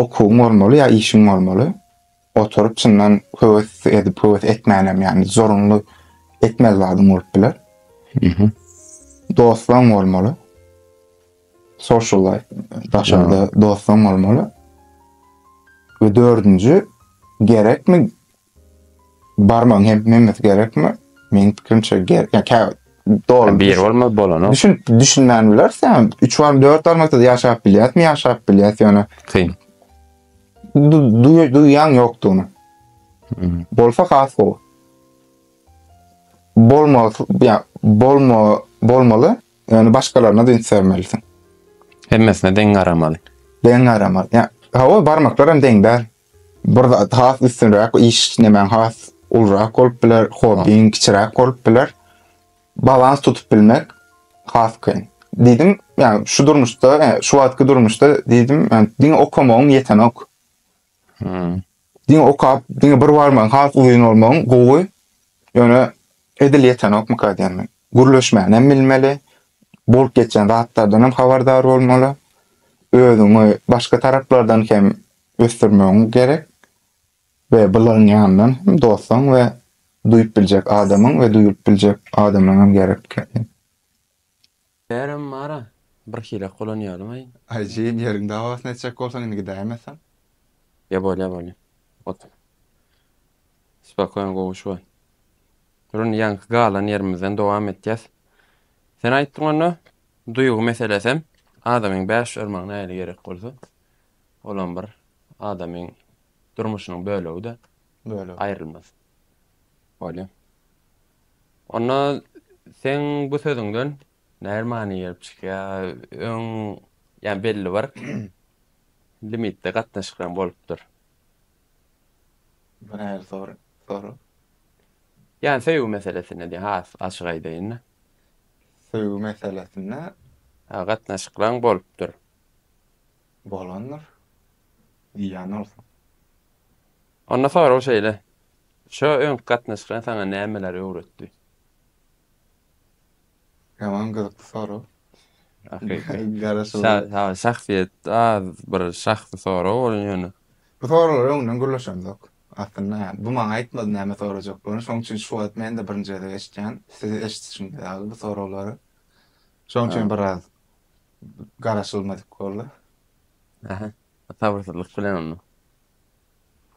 okuwyň bolmaly ýa işiň bolmaly Oturyp çyndan höwes edip höwes etmänem ýagny zorunly etmez zadyň bolup biler. Mhm. Dostlaň bolmaly. Social life daşarda dostlaň bolmaly. We dördünji gerekmi barmaň hem hemmesi gerekmi? Meň pikirimçe gerek. Ýa kä dol. Bir bolmaz bolana. Düşün düşünmän bilersen 3 bar 4 barmakda ýaşap bilýärmi ýaşap bilýäs ýöne Kyn. duýýan ýokdugyny. Hmm. Bolsa has gowy. Bolma, ya bolma, bolmaly. Yani başkalarına dünç vermelisin. Hemmesine deň garamaly. Deň garamaly. Ya hava barmaklar hem deň der. Bir zat has üstünrak iş nemen has ulrak olup biler, hobbin kiçirak olup biler. Balans tutup bilmek has kyn. Diýdim, ýagny şu durmuşda, şu wagtky durmuşda diýdim, diňe okamagyň ýetenok. Hmm. Diňe okap, diňe bir barmagyň has uzyn bolmagyň gowy. Ýöne edil ýetenokmyka diýen men. Gürleşmäni hem bilmeli, bolup geçen zatlardan hem habardar bolmaly. Özüňi başga taraplardan hem ösdürmegiň gerek. we bularyň ýanyndan hem dostuň we duýup biljek adamyň we duýulyp biljek adamyň hem gerek ekeni. Bärem bara bir hilek bolan ýalyňaý. Aý jigim ýeriň dawasyny etjek bolsaň indi gidäýmesem. Ýa bolýa bolýa. Otur. Spokoýn gowy şu wagt. Dur indi ýaňky galan ýerimizden dowam etýäs. Sen aýtdyň onda duýgy meselesem adamyň bäş örmagyna äýli gerek bolsa olam bir adamyň durmuşynyň bölegi-de Bölegi. aýrylmaz. Bolýa. Onda seň bu sözüňden näme many gelip çykýar? Öň ýa belli bir limitde gatnaşyklaryň bolupdyr. Bu näme sor soru? Ýa söýgi meselesinde diýen has açyk aýdaýyn-da. Söýgi meselesinde Ha, gatnaşyklaryň bolupdyr. bolandyr. Ziýan bolsun. Onda sorag şeýle, Şo öňki gatnaşyklar saňa nämeleri öwretdi? Ýaman gyzykly sorag. Garaşylýar. Şahsyýet az bir şahsy sorag bolan ýöne. Bu soraglary öňden gürleşemzok. Aslynda ýa bu maňa aýtmady näme sorajakdygyny. Şoň üçin şu wagt men-de birinji gezek eşitýän. Siz eşitişiňiz ýaly bu soraglary. Şoň üçin biraz garaşylmadyk boldy. Ähä. Sabyrsyzlyk bilen onda.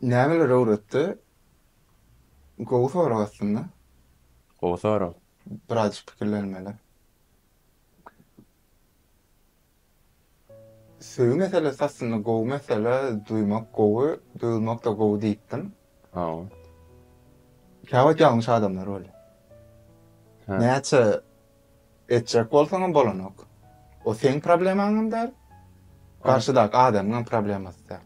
Nämeler öwretdi? Gowy sorag aslynda. Gowy sorag. Birazjyk pikirlenmeli. Söýgi meselesi aslynda gowy mesele, duýmak gowy, duýulmak-da gowy diýipdim. Hawa. Käwagt ýalňyş adamlar bolýar. Hä. Näçe Etjek bolsaňam bolanok. O seň problemaňam däl, garşydaky adamyňam problemasy däl.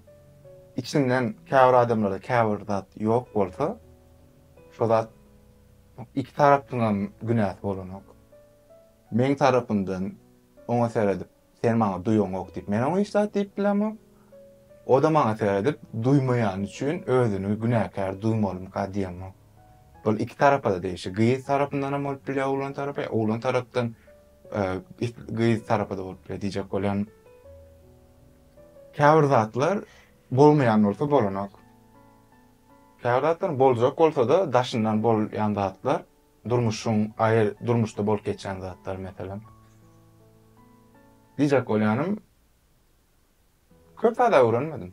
Içinden käbir adamlarda käbir zat ýok bolsa, şo zat iki tarapyňam günäsi bolanok. Meň tarapymdan oňa seredip, Sen maňa duýaňok diýip, men oňa hiç zat diýip bilemok. O-da maňa seredip, duýmaýany üçin özüni günäkär duýmalymyka diýemok. Bul iki tarapa-da degişli. Gyz tarapyndanam bolup bilýär, oglan tarapy, oglan tarapdan gyz tarapy-da bolup bilýär diýjek bolýan. Käbir zatlar bolmaýan bolsa bolanok. Käbir zatlar boljak bolsa-da daşyndan bolýan zatlar Durmuşyň aýy durmuşda bolup geçýän zatlar meselem. Diýjek bolýanym, köp zat öwrenmedim.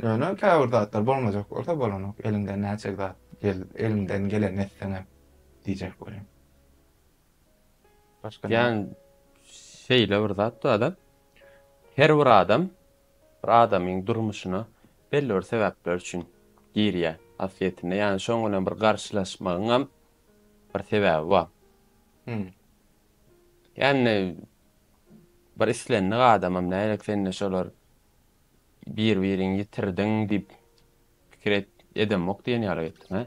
Ýöne käbir zatlar bolmajak bolsa bolanok, eliňden näçe zat gel, eliňden gelenini etseň hem diýjek bolýan. Başga näme? Ýan şeýle bir zat bar-da. Her bir adam Bir adamyň durmuşyna belli bir sebäpler üçin girýär asliyetinde yani şoň bilen bir garşylaşmagyň hem bir sebäbi bar. Hmm. Yani bir islendik adamam nälik sende şolar bir birin yitirdiň diyip pikir et, edemok diyen yaly ettin he.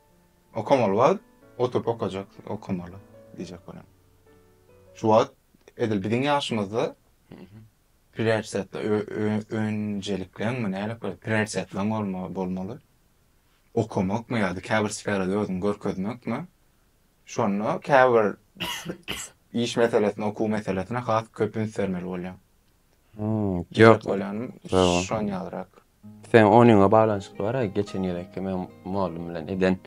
Okamaly wagt oturyp okajak, okamaly diýjek bolan. Şu wagt edil biziň ýaşymyzda prioritetli önjelikleňmi nädip bolýar? Prioritetleň bolmaly. Okamakmy ýa-da käbir sferada özüňi görkezmekmi? Şonda käbir iş meselesine, okuw meselesine has köp üns bermeli bolýaň. Ýok, bolýan şon ýalyrak. Seň onyňa baglanyşykly bara geçen ýylky meň mugallym bilen eden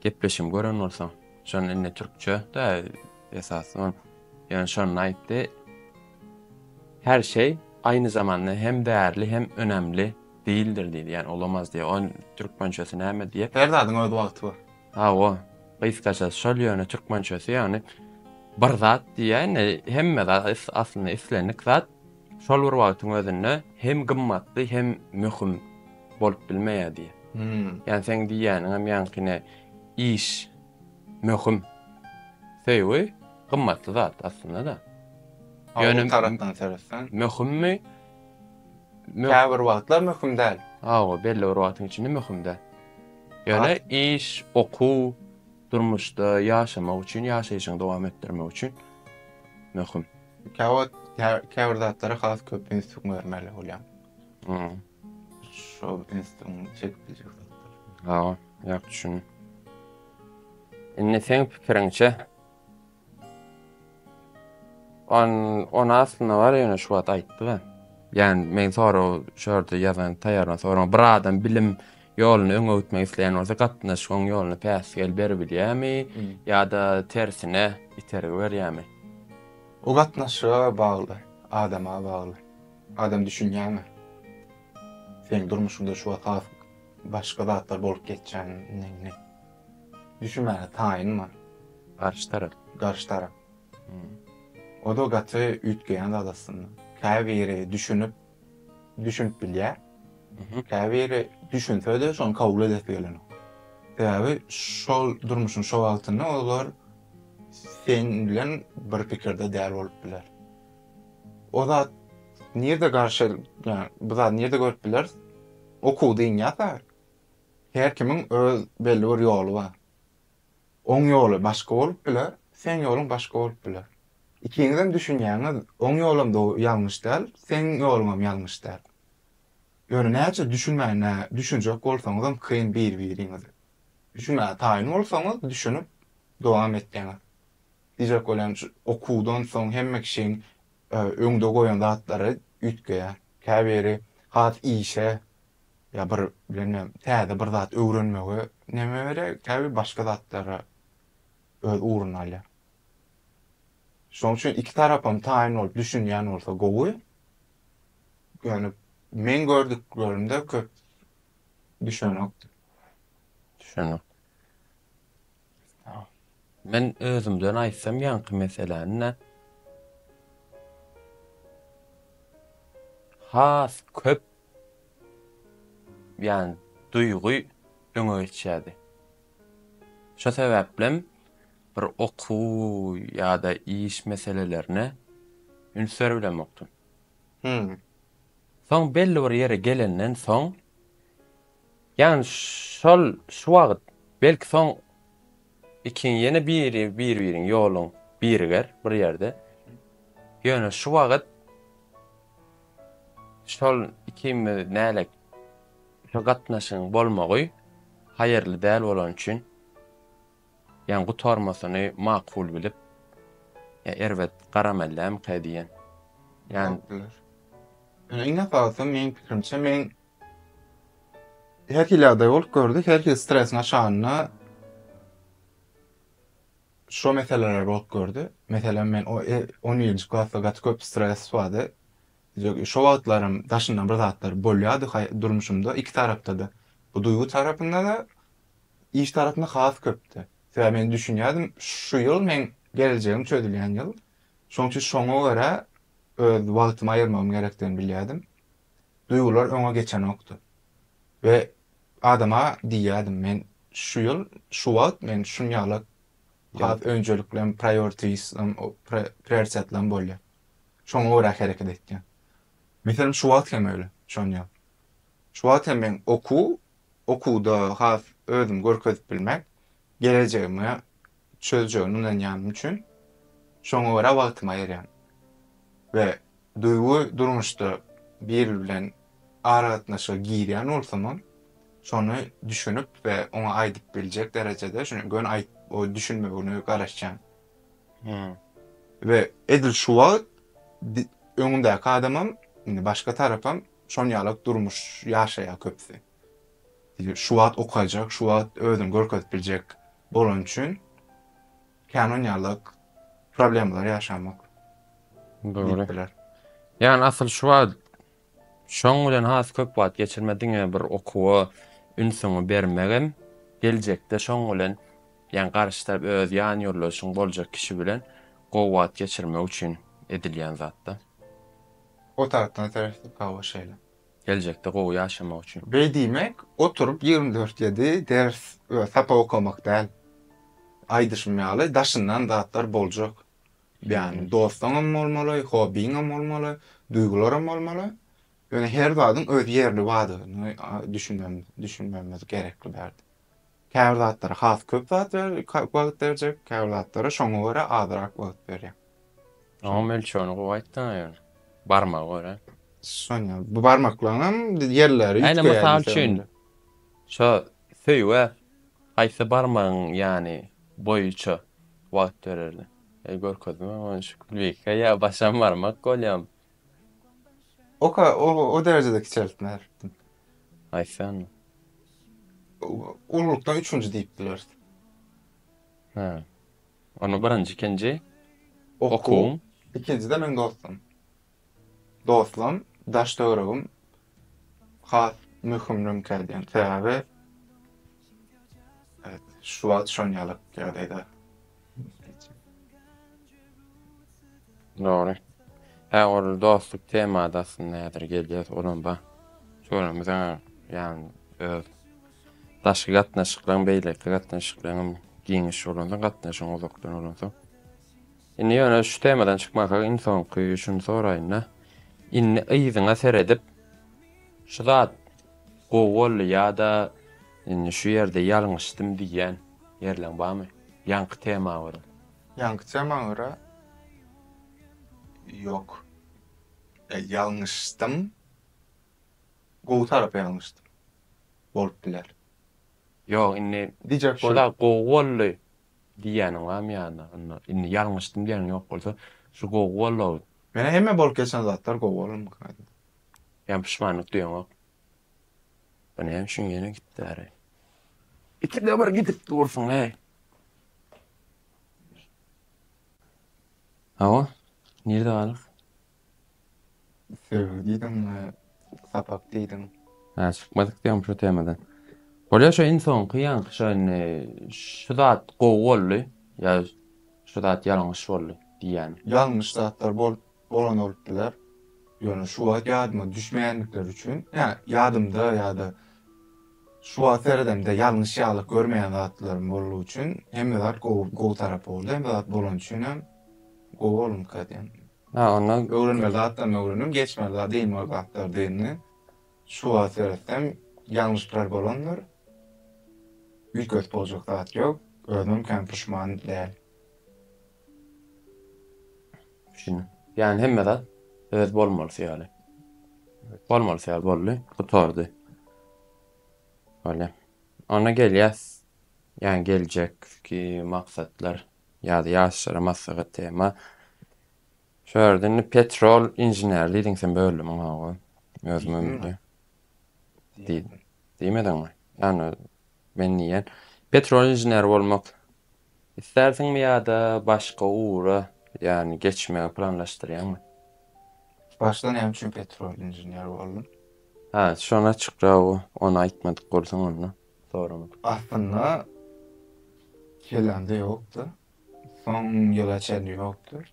gepleşigimi gören bolsaň. Şon indi türkçe da esasy on. Ýöne şonda aýtdy. Her şey aynı zamanda hem değerli hem önemli değildir diýdi. Yani olamaz diye. On türkmençesi näme diye. Her zadyň öz wagty bar. Ha o. Gysgaça şol ýöne türkmençesi yani bir zat diýýän hemme zat aslynda islendik zat Şol bir wagtyň özünde hem gymmatly hem möhüm bolup bilmeýär diýýär. Ýani seň diýýäniňem ýaňkyny iş möhüm. Söýgi gymmatly zat aslynda-da. Ýöne tarapdan seretseň. Möhümmi? Käbir wagtlar möhüm däl. Hawa, belli bir wagtyň içinde möhüm däl. Ýöne iş, okuw, Durmuşda ýaşamak üçin, ýaşaýşyňy dowam etdirmek üçin möhüm. Käwagt käbir zatlara has köp üns bermeli bolýaň. Hmm. Şo ünsüň çekip biljek zatlar. Ha, ýa düşündim. Indi seň pikiriňçe, On on aslynda bar ýöne şu wagt aýtdy ben. Ýan men sorag şu ýerde ýazan taýýarlan sorag bir adam bilim ýoluny öňe gitmek isleýän bolsa gatnaşygyň ýoluny päsgel beribilýämi ýa-da tersine itergi berýämi? O gatnaşyga bagly, adama bagly. Adam düşünýäňmi? Seň durmuşyňda şu wagt has başga zatlar bolup geçýändigini. Düşünmäge taýyn bar. Garşy tarap. Garşy tarap. O-da gaty üýtgeýän zat aslynda. Käbiri düşünip, düşünip bilýär. Käbiri düşünse-de şony kabul edesi gelenok. Sebäbi şol durmuşyň şo wagtynda olar sen bilen bir pikirde däl bolup biler. O zat nirde garşy, ýa bu zady nirde görüp bileris? Okuwda inýärse, Her kimiň öz belli bir ýoly bar. Oň ýoly başga bolup biler, seň ýoluň başga bolup biler. Ikiňizem düşünýäňiz oň ýolam do ýalňyş däl, seň ýoluňam ýalňyş däl. Ýöne näçe düşünmän nä düşünjek bolsaňyzam kyn bir-biriňizi. Düşünmäge taýyn bolsaňyz düşünip dowam etseňiz. Diýjek bolýan şu okuwdan soň hemme kişiň öňde goýan zatlary üýtgeýär. Käbiri has işe ýa bir bilmem täze bir zat öwrenmegi neme berýär, käbir başga zatlara öz ugruny alýar. Şoň üçin iki tarapam taýyn bolup düşünýän bolsa gowy. Ýöne meň gördüklerimde köp düşünokdy. Düşünok. Men özümden aýtsam ýaňky meseläni-de has köp ýany duýgy öňe geçýärdi. Şo sebäplem bir okuw ýa-da iş meselelerine üns berbilemokdym. Soň belli bir ýere gelenden soň Ýan şol şu wagyt belki soň ikiň ýene biri bir biriň ýolun biriger bir ýerde ýöne şu wagyt şol ikimiz nälet şu gatnaşygyň bolmagy haýyrly däl bolany üçin ýan gutarmasyny makul bilip ýa erbet garamellämkä diýen ýan Ýa iň esasy meň pikirimçe meň Her hili ýagdaý bolup gördi, her hili stres naşanyna şo meseleler bolup gördi. Meselem, men o 11-nji e, klasda gaty köp stres bardy. Şo wagtlarym daşyndan bir zatlar bolýardy durmuşymda iki tarapda-da. Bu duýgy tarapynda-da, iş tarapynda has köpdi. Sebäbi men düşünýärdim, şu ýyl men geljegim çözülýän ýyl. Şonuň üçin şoňa görä öz wagtymy aýyrmagym gerekdigini bilýärdim. duýgular öňe geçenokdy. We adama diýýärdim, men şu ýyl, şu wagt men şun ýaly has önjeliklerim, priorities-lerim, prioritetlerim bolýar. Şoňa görä hereket etýän. Meselem, şu wagt hem öýle, şon ýaly. Şu wagt hem men okuw, okuwda has özümi görkezip bilmek, gelejegimi çözjegine ynanýanym üçin şoňa görä wagtymy aýyrýan. We Duýgy durmuşda biri bilen aragatnaşyga girýän bolsamam, şony düşünip we oňa aýdyp biljek derejede, şuny göni aýdyp o düşünmegini garaşýan. We edil şu wagt öňündäki adamam, indi başga tarapam şon ýalak durmuş ýaşaýar köpüsi. Şu wagt okajak, şu wagt özüni görkezip biljek bolany üçin. Kän oýnarlyk problemalar ýaşamak. Dogry. Ýani asyl şu wagt şoň bilen has köp wagt geçirme diňe bir okuwa ünsüňi bermegem geljekde şoň bilen ýani garşy tarap öz ýan ýoldaşyň boljak kişi bilen gowy wagt geçirmek üçin edilýän zatda. O tarapdan seretdik hawa şeýle. geljekde gowy ýaşamak üçin. Beý diýmek oturyp ýigrimi dört ýedi ders we sapak okamak däl. Aýdyşym ýaly daşyndan zatlar boljak. Ýagny dostuňam bolmaly, hobbiňem bolmaly, duýgularam bolmaly. Ýöne her zadyň öz ýerli badyny düşünmemiz gerekli bärde. Käbir zatlara has köp zat wagt berjek, käbir zatlara şoňa görä azrak wagt berýär. Onuň ölçegini gowy aýt da ýöne. Barmaga görä. Şonýa. Bu barmaklaryňam ýerleri üýtgeýär. Ine mysal üçin şo söýgä haýsy barmagyň ýany boýuça wagt bererli? Eý görkezme ony şu klike ýa başam barmak bolýamy? Oka o derejede kiçeltme beripdim. Aýtsaňmy? Ululykda üçünji diýip bileris. Hä. Onda birinji, ikinji okuwuň. Ikinjide meň dostum. Dostum, daş-töweregim has möhüm mümkin edýän. Sebäbi şu wagt şon ýaly ýagdaýda. Dogry. He ol dostluk temada aslynda häzir gelýär olam ba. Şolam biziň ýan öz daşky gatnaşyklaryň beýleki gatnaşyklaryň giňiş bolanda gatnaşygyň uzakdan bolanda. Indi ýöne şu temadan çykmasa iň soňky şuny soraýynda. Indi yzyňa seredip şu zat gowy boldy ýa-da Indi şu ýerde ýalňyşdym diýýän ýerleň barmy? Ýaňky tema görä. Ýaňky tema görä ýok. Ýa ýalňyşdym. Gowy tarapa ýalňyşdym. Bolup biler. Ýok indi Diýjek bolup. Şular gowy boldy diýýäniň barmy ýa-da onda indi ýalňyşdym diýýäniň ýok bolsa şu gowy boldy. Menä hemme bolup geçen zatlar gowy bolanmyka aýdym. Ýa puşmanlyk duýaňok. Bu näme üçin ýene gitdi äri? Ikide bir gidip dursun hey. Hawa, nirde galyk? Söýgi diýdiň, sapak diýdiň. Ha, çykmadyk diýen şu temadan. Bolýar şu iň soňky ýaňky şu indi şu zat gowy boldy, ýa şu zat ýalňyş boldy diýýän. Ýalňyş zatlar bolup bolan bolup biler. Ýöne şu wagt ýadyma düşmeýändikleri üçin, ýa ýadymda ýa-da şu wagt seredemde ýalňyş ýaly görmeýän zatlarym boldugy üçin hemme zat gowy gowy tarapy boldy. Hemme zat bolany üçin hem gowy bolunka diýen. Ha onda öwrenmeli zatlaryny öwrendim, geçmeli zat dynmaly zatlar dyndy. Şu wagt seretsem ýalňyşlar bolandyr. Üýtgedip boljak zat ýok. Özüm hem puşman däl. Şunu. Yani hemme zat öz bolmalysy ýaly. Bolmalysy ýaly boldy. Gutardy. Öyle. Ona gelýäs. Yani geljek ki maksatlar ya da ýaşlara maslahat tema. Şu ýerde petrol inžener diýdiň sen bölümiň hawa. Özüm ömürde. Diýmediňmi? Yani Men diýýän, petrolinžener bolmak islärsiňmi ýa-da başga ugra, ýagny geçmegi planlaşdyrýaňmy? Başda näme üçin petrolinžener boldum? Hä, şony açykraga ony aýtmadyk bolsaň onda, soramak. Aslynda, kellämde ýokdy. Soň ýyla çenli ýokdy.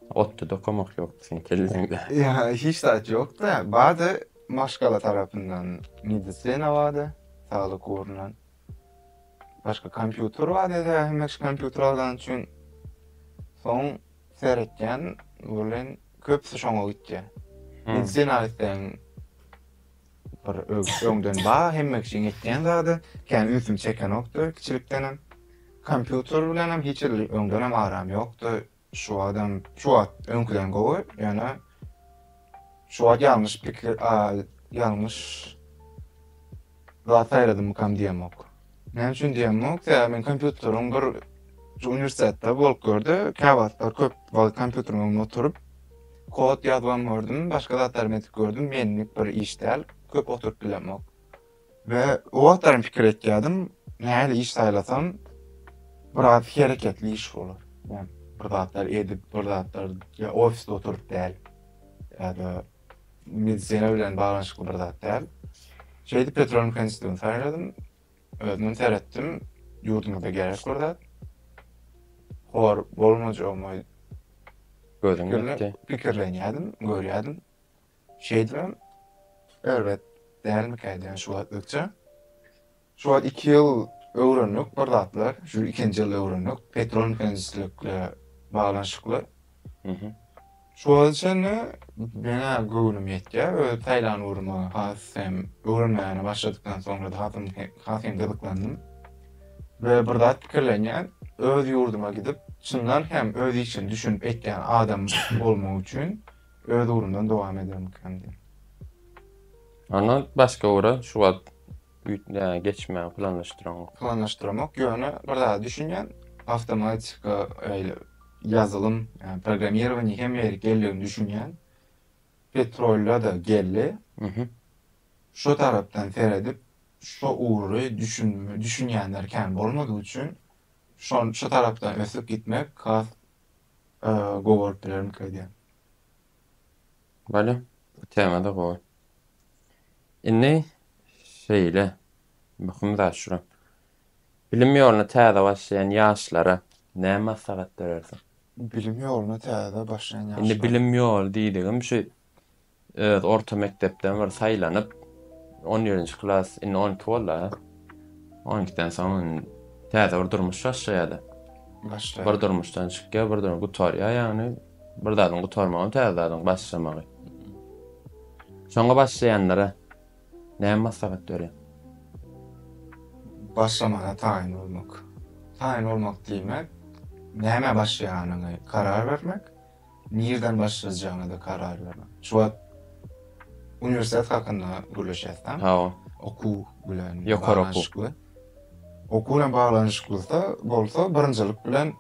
Otda dokamak ýokdy seň kelleňde. Ýa hiç zat ýokda. Bada maşgala tarapyndan medisina bada, saglyk ugrundan. Başga kompýuter bar ýa-da hemişe kompýuter algany üçin soň seretýän welin köpüsi şoňa gitýä. Medisina isleýän. Bir öňden bar hemme kişiň etýän zady, kän ünsümi çekenokdy kiçilikdenem. Kompýuter bilenem hiç hili öňdenem aram ýokdy. Şu watam, şu wagt öňküden gowy, ýöne şu wagt ýalňyş pikir, ýalňyş zat saýladymykam diýemok. Näme üçin diýemok, sebäbi men kompýuteriň bir şu uniwersitetde bolup gördi, käwagtlar köp wagt kompýuteriň öňünde oturyp, kod ýazybam gördüm, başga zatlarym edip gördüm, menlik bir iş däl, köp oturyp bilemok. We o wagtlar hem pikir etýärdim, nähili iş saýlasam, biraz hereketli iş bolar. Ýa bir zatlar edip, bir zatlar ýa ofisde oturyp däl, ýa-da Medisina bilen baglanyşykly bir zat däl. Şeýdip Petrolimka institutyny saýladym. Özümem seretdim. Ýurdumyzda gerek bir zat. Hor bolmajagyma gözüm ýetdi. Pikirlenýärdim, görýärdim. Şeýdibem erbet dälmikä diýýän şu wagtlykça. Şu wagt iki ýyl öwrendik bir zatlar, şu ikinji ýylda öwrendik, petrol mehaniçilikle baglanyşykly. Şu wagta çenli menä göwnüm ýetýär, öz saýlan ugrumy has hem öwrenmäne başladykdan soňra-da has hem has hem gyzyklandym. We bir zat pikirlenýän, öz ýurduma gidip, çyndan hem öz işini düşünip etýän adam bolmak üçin öz ugrumdan dowam edermikäm diýip. Ondan başga ugra şu wagt Üýtgä geçmäge planlaşdyraňok. Planlaşdyramok, ýöne bir zada düşünýän, awtomatika, eýle ýazylym, ýa programmirowaniýa hemme ýerik geldigini düşünýän. Petrolda-da geldi. Şo tarapdan seredip, şo ugry düşün, düşünýänler kän bolmadygy üçin, şon, şo tarapdan ösüp gitmek has gowy bolup bilermika diýýän. Bolýa. Bu tema-da gowy. Indi şeýle, möhüm zat şura. Bilim ýoluna täze başlaýan ýaşlara näme maslahat berersiň? Bilim ýoluna täze başlaýan ýaşlara. Indi bilim ýoly diýdigim şu öz orta mekdepden bir saýlanyp, on birinji klas, indi on iki boldy-a. On ikiden soň täze bir durmuş başlaýar-da. Başlaýar. Bir durmuşdan çykýar, bir durmuş gutarýar, ýagny Bir zadyň gutarmagy, täze zadyň başlamagy. Şoňa başlaýanlara näme maslahat berýäň? Başlamaga taýyn bolmak. Taýyn bolmak diýmek, nämä başlaýanyňy karar bermek, nirden başlajagyňy-da karar bermek. Şu wagt uniwersitet hakynda gürleşýäs-dä. Hawa. Okuw bilen ýokary okuw. Okuw bilen baglanyşyklyda bolsa birinjilik bilen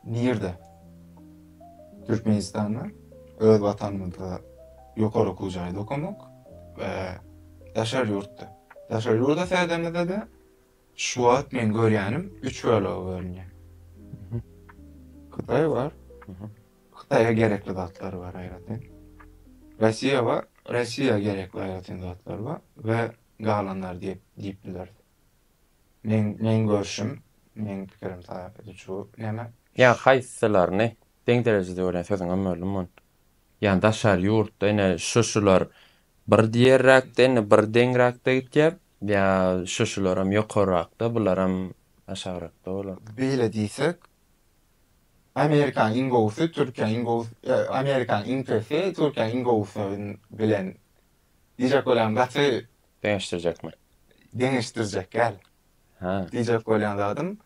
Nirde? Türkmenistanda öz watanymyzda ýokary okuw jaýda okamak we daşary ýurtda. Daşary ýurda seredemizde-de şu wagt men görýänim üç bölege bölünýär. Hytaý bar. Hytaýa gerekli zatlar bar aýratyn. Rossiýa bar. Rossiýa gerekli aýratyn zatlar bar we galanlar diýip diýip bileris. Meň meň görşüm meň pikirim talap edijuu neme. Ýa haýsylaryny deň derejede görýän sözüňem böldüm mun. Ýa daşary ýurtda ine şu şular bir diýerräkde indi bir deňräkde gitýär ýa şu şularam ýokarrakda bularam aşagrakda bolar. Beýle diýsek Amerikaň iň gowusy Türkiýäň iň gowusy ýa Amerikaň iň pesi Türkiýäň iň gowusy bilen diýjek bolýan gaty Deňeşdirjekmi? Deňeşdirjek däl. Hä. Diýjek bolýan zadym,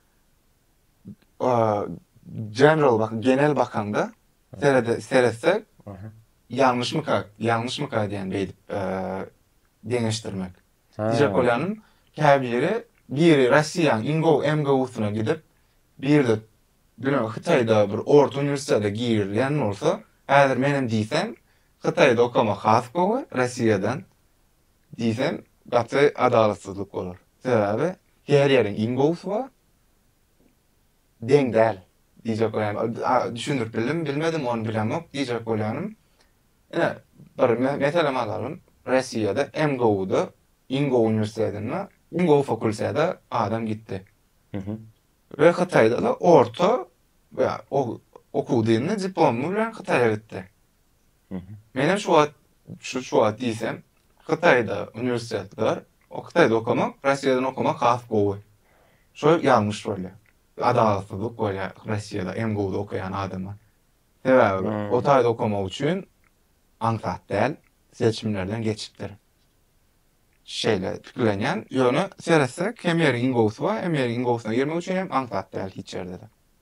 general bak, genel bakaňda serede seretsek, ýalňyşmyka, ýalňyşmyka diýen beýdip deňeşdirmek. Diýjek bolýanym, käbiri biri Russiýanyň Ingo MGU-syna gidip, birde Hytaýda bir orta uniwersitete girilýän bolsa, häzir menem diýsem, Hytaýda okamak has gowy Rossiýadan diýsem gaty adalatsyzlyk bolar. Sebäbi her ýeriň iň gowusy bar deň däl diýjek bolýanym düşündirip bildimmi bilmedim ony bilemok diýjek bolýanym ine bir meselem alalyň Rossiýada em gowuda iň gowy uniwersitetinde iň gowy fakultete adam gitdi we Hytaýda-da orta okuw dyndy diplomy bilen Hytaýa gitdi. Men hem şu wagt, şu şu wagt diýsem, Hytaýda uniwersitet bar. O Hytaýda okamak, Russiýadan okamak has gowy. Şo ýalňyş bolýar. Adalatsyzlyk bolýar Russiýada MGU-da okaýan adama. Sebäbi o taýda okamak üçin aňsat däl, seçimlerden geçipdir. Şeýle pikirlenýän. Ýöne seretsek, hem ýeriň iň gowusy bar, hem ýeriň iň gowusyna girmek üçin hem aňsat däl hiç ýerde-de.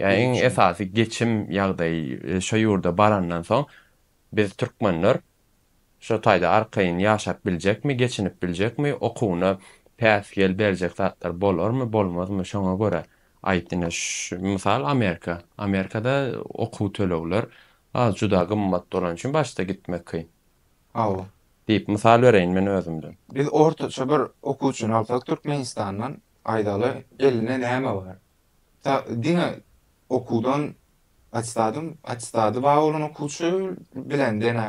Ýa iň esasy geçim ýagdaýy şo ýurda barandan soň biz türkmenler şo taýda arkaýyn ýaşap biljekmi, geçinip biljekmi, okuwyna päsgel berjek zatlar bolarmy, bolmazmy şoňa görä aýt ine mysal Amerika, Amerikada okuw tölegler az juda gymmat bolany üçin başda gitmek kyn. Hawa. Diýip mysal bereýin men özümden. Biz ortaça bir okuwçyny alsak Türkmenistandan aýdaly eline näme bar? Ta diňe okuwdan atestadym, atestady bar bolan okuwçy bilen deňe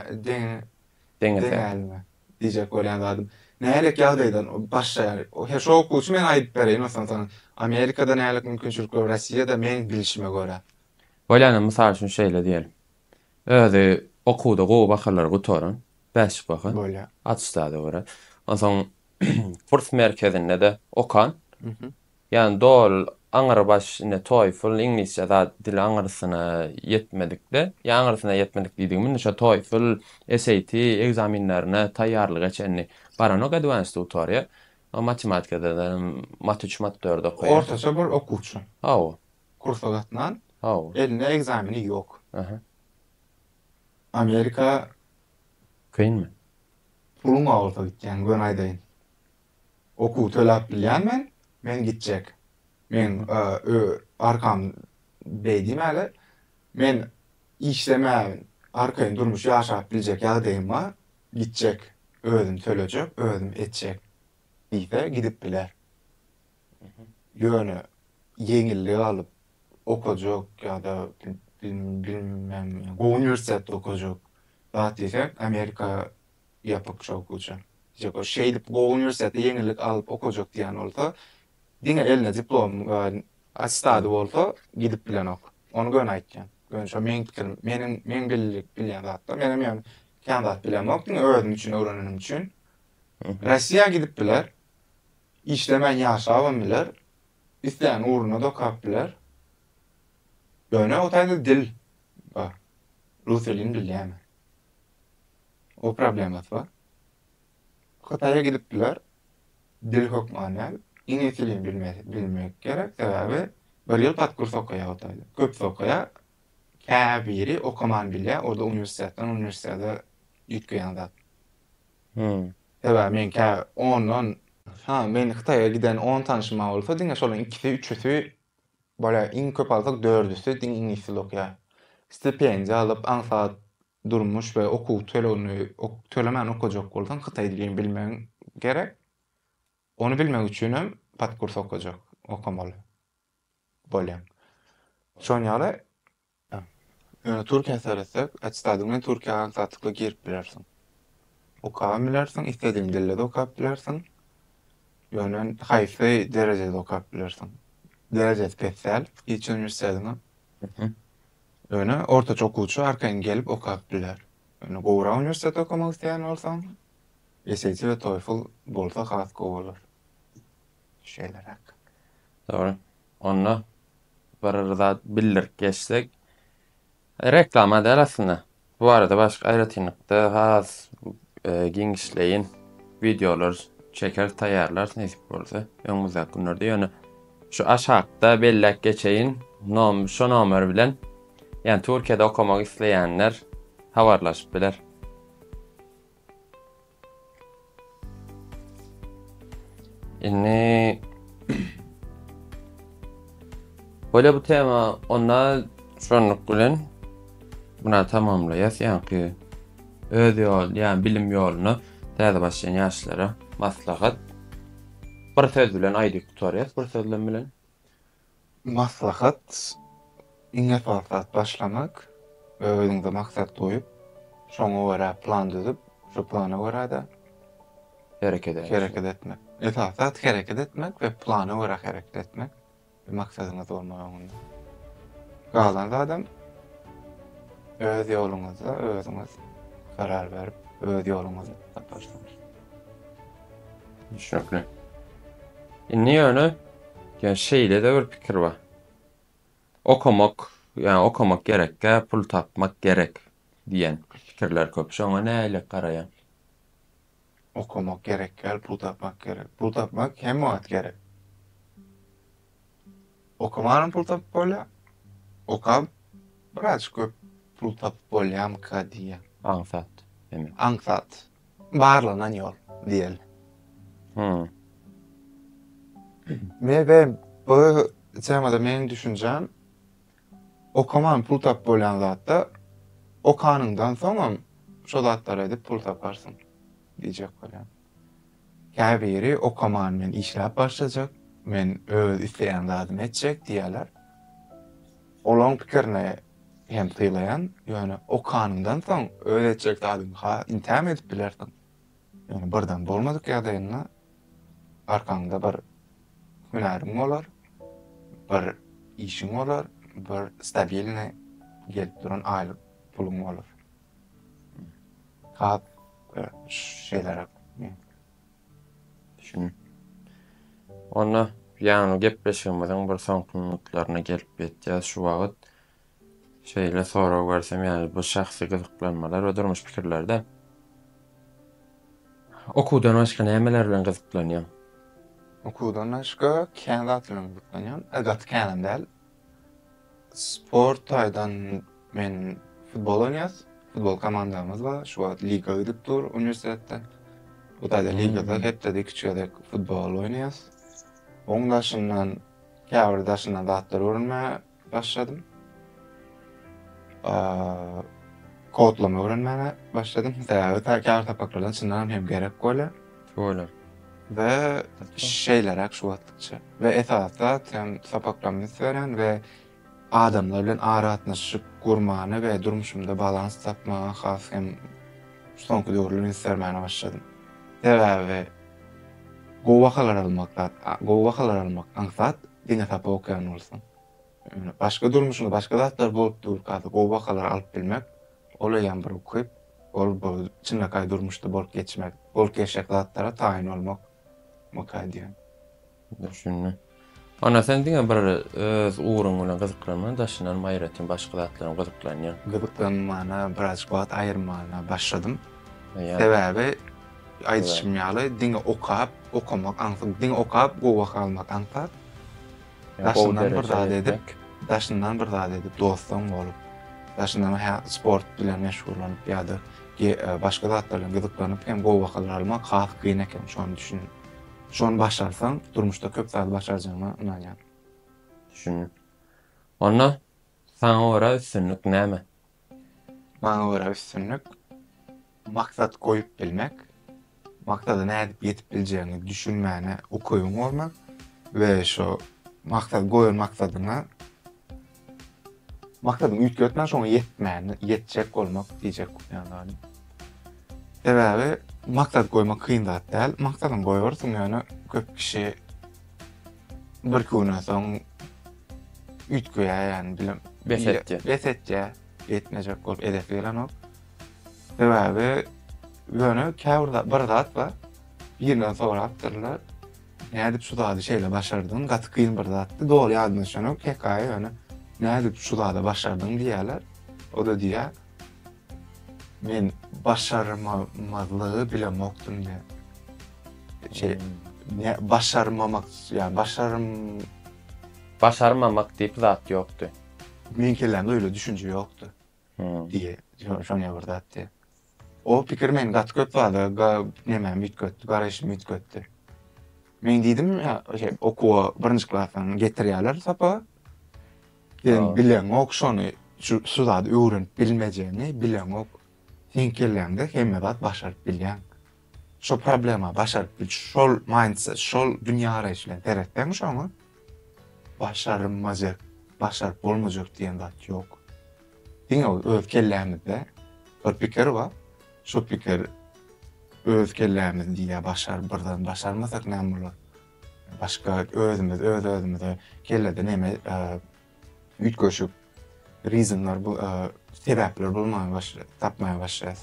deňäliňe diýjek bolýan zadym. Nälik ýagdaýdan başlaýar? Her şo okuwçy men aýdyp bereýin ýogsam saňa. Amerikada nälik mümkinçilikler, Rossiýada meň bilişime görä. Bolýan mysal üçin şeýle diýeliň. Özi okuwda gowy bahalary gutaran, bäşlik baha. Bolýar. Atestada görä. Onsoň kurs merkezinde-de okan. Ýani dol aňyry baş ine toefl iňlisçe zat dil aňyrsyna ýetmedikde ýa aňyrsyna ýetmedik diýdigim indi şo toefl SAT ekzaminlerine taýýarlyk eçenli baranok advanced tutoriýa o matematikadadanam mat üç mat dört okaýa. Ortaça bir okuwçy. Hawa. Kursa gatnan. Hawa. Elinde ekzameni ýok. Aha. Amerika. Kynmy? Puluň bolsa gitýäň göni aýdaýyn. Okuw tölap bilyan men, men gitjek. Men ö, arkam beý diýmäli. Men işlemän arkaýyn durmuş ýaşap biljek ýagdaýym ba, gitjek, özüm tölejek, özüm etjek diýse gidip biler. Ýöne ýeňillik alyp okajak ýa-da bil, bilmem gowy uniwersitetde okajak zat diýsek Amerika ýapyk şok uçan. Ýa-da şeýdip gowy uniwersitetde ýeňillik alyp okajak diýen bolsa, diňe elinde diplom we attestady bolsa gidip bilenok. Ony göni aýtýan. Göni şo meň pikirim. Meniň, meň bilýän zatlar. Menem ýöne kän zat bilemok. Diňe özüm üçin öwrenenim üçin. Russiýa gidip biler. Işlemän ýaşabam biler. Islän ugruna-da okap biler. Ýöne o taýda dil bar. Rus dilini bilýän. O problemasy bar. Hytaýa gidip biler. Dil hökman däl. Iňlis dilini bilmesi bilmek gerek. Sebäbi bir ýyl pat kurs okaýar Hytaýda. Köpüsi okaýar. Käbiri okaman bilýär. O-da uniwersitetden uniwersitete üýtgeýän zat. Sebäbi men kä ondan Haha men Hytaýa giden on tanyşym bolsa diňe şolaryň ikisi, üçüsi Bolýa iň köp alsak dördüsi diňe iňlis dili okýar. Stipendiýa alyp aňsat durmuş we okuw tölegini tölemän okajak bolsaň hytaý dilini bilmegiň gerek. Ony bilmek üçin hem podkurs okajak okamaly bolýaň. Şonuň ýaly Ýöne Türkiýä seretsek, attestadiň bilen Türkiýä aňsatlyklly girip bilersiň. Okabam bilersiň, isledigiň dilde-de okap bilersiň. Ýöne haýsy derejede okap bilersiň. Derejesi pes däl hiç uniwersitetiňem. Ýöne ortaça okuwçy arkaýyn gelip okap biler. Ýöne gowurak uniwersitete okamak isleýän bolsaň, SAT we TOEFL bolsa has gowy bolar. Şeýleräk. Dogry. Onda bir zat bildirip geçsek, reklama däl aslynda. Bu barada başga aýratynlykda has e, giňişleýin wideolar çeker taýýarlarys nesip bolsa öňümüzdäki günlerde. Ýöne şu aşakda belläp geçeýin, nom şu nomer bilen ýani Türkiýede okamak isleýänler habarlaşyp biler. Indi Böyle bu tema onda şonluk bilen buna tamamlaýas ýaňky öz ýol ýa bilim ýoluna täze başlaýan ýaşlara maslahat bir söz bilen aýdyp gutarýas bir sözlem bilen Maslahat, Iň esasy zat başlamak, özüňize maksat goýup, şoňa görä plan düzüp, şo plana görä-de hereket etmek. Esasy zat hereket etmek we plana görä hereket etmek, bir maksadyňyz bolmaly öňünde. Galan zadam öz ýoluňyzda özüňiz karar berip, öz ýoluňyzy taparsyňyz. Düşünekli. Indi ýöne ya şeýle de bir pikir bar. Okamak, yani okamak gerekkä, pul tapmak gerek diýen pikirler köp. Şoňa nähili garaýaň? Okamak gerekkä, pul tapmak gerek. Pul tapmak hemme wagt gerek. Okamanam pul tapyp bolýar, okap biraz köp pul tapyp bolýamyka diýýän. Aňsat, demek. Aňsat. Barlanan ýol diýeli. Hum. Mebe bu temada meniň düşünjem okaman pul tapyp bolýan zatda okanyňdan soňam şo zatlary edip pul taparsyň diýjek bolýan. Käbiri okaman men işläp başlajak, men öz isleýän zadymy etjek diýýärler. Olaryň pikirini hem sylaýan, ýöne okanyňdan soň öz etjek zadyňy ha intämi edip bilersiň. Ýöne birden bolmadyk ýagdaýynda arkaňda bir hünäriň bolar, bir işiň bolar, bir stabilnyý gelip duran aýlyk puluň bolar. Hat şeýleräk. Şun. Onda ýaňy gepleşigimiziň bir soňky minutlaryna gelip ýetýäs. Şu wagt şeýle sorag bersem, ýaly bu şahsy gyzyklanmalar we durmuş pikirlerde okuwdan başga nämeler bilen gyzyklanýaň? Okuwdan başga kän zat bilen gyzyklanýan. Gaty känem däl. Sport taýdan men futbol oýnarys. Futbol komandamyz bar. Şu wagt liga gidip dur uniwersitetde. Bu taýda ligada hepdede iki gezek futbol oýnaýarys. Oň daşyndan käbir daşyndan zatlar öwrenmäge başladym. Kodlama öwrenmäge başladym. Sebäbi käbir sapaklardan çyndanam hem gerek bolýar. Bolar. We şeýleräk şu wagtlykça. We esasy zat hem sapaklarymda üns berýän we adamlar bilen aragatnaşyk gurmana we durmuşymda balans tapmaga has hem soňky döwürler üns bermäne başladym. Sebäbi gowy bahalar almak zat, gowy bahalar almak aňsat, diňe sapak okaýan bolsaň. Başga durmuşyňda başga zatlar bolup durka gowy bahalar alyp bilmek Olaýam bir ukyp, ol bu çynlakaý durmuşda bolup geçmek, bolup geçjek zatlara taýyn bolmak ukyp diýen. Düşündim. Ana sen diňe bir öz ugruň bilen gyzyklanma, daşyndanam aýratyn başga zatlaram gyzyklanýaň. Gyzyklanmana birazjyk wagt aýyrmana başladym. Sebäbi aýdyşym ýaly diňe okap, okamak aňsat, diňe okap gowy baha almak aňsat. Daşyndan bir zat edip, daşyndan bir zat edip, dostum bolup, daşyndan hä sport bilen meşgullanyp ýa-da başga zatlar bilen gyzyklanyp hem gowy bahalar almak has kyn eken, şony düşündim. Şony başarsaň, durmuşda köp zady başarjagyňa ynanýan. Düşündim. Onda Saňa görä üstünlik näme? Maňa görä üstünlik, maksat goýup bilmek, maksada nädip ýetip biljegiňi düşünmäne ukybyň bolmak we şo maksat goýan maksadyňa maksadyňy üýtgetmän şoňa ýetmäne ýetjek bolmak diýjek ýaly. Sebäbi maksat goýmak kyn zat däl. Maksadyňy goýarsyň ýöne köp kişi Birki günden soň üýtgeýär ýany bilim. Bes etýär. Bes etýär. Etmejek bolup edesi gelenok. Sebäbi ýöne käbir zat bir zat bar. Birinden sorapdyrlar. Nädip şu zady şeýle başardyň? Gaty kyn bir zatdy. Doly ýadyma düşenok hekaýa ýöne nädip şu zady başardyň diýýärler. O-da diýýär. Men başarmamazlygy bilemokdym diýýär. Şey, ne, başarmamak, ýa başarm... Başarmamak diýip zat ýokdy. Meň kellämde öýle düşünje ýokdy. Diýýär, şo, şonýa bir zat diýýär. O pikir meni gaty köp zada ga, nemämi üýtgetdi, garaýşymy üýtgetdi. Men diýdim, ýa, şey, okuwa birinji klasdan getirýärler sapaga. Sen bileňok şony şu şu zady öwrenip bilmejegini bileňok. Seň kelläňde hemme zat başaryp bilýäň. Şo problema başaryp bil şol mindset şol dünýägaraýyş bilen seretseň şoňa başarylmajak başaryp bolmajak diýen zat ýok. Diňe öz kellämizde bir pikir bar. Şo pikir öz kellämiz diýýär başar birden başarmasak näme bolar. Başga özümiz öz-özümize kellede neme üýtgeşik reasonlar bu sebäpler bolmaga başlaýar, tapmaga başlaýarys.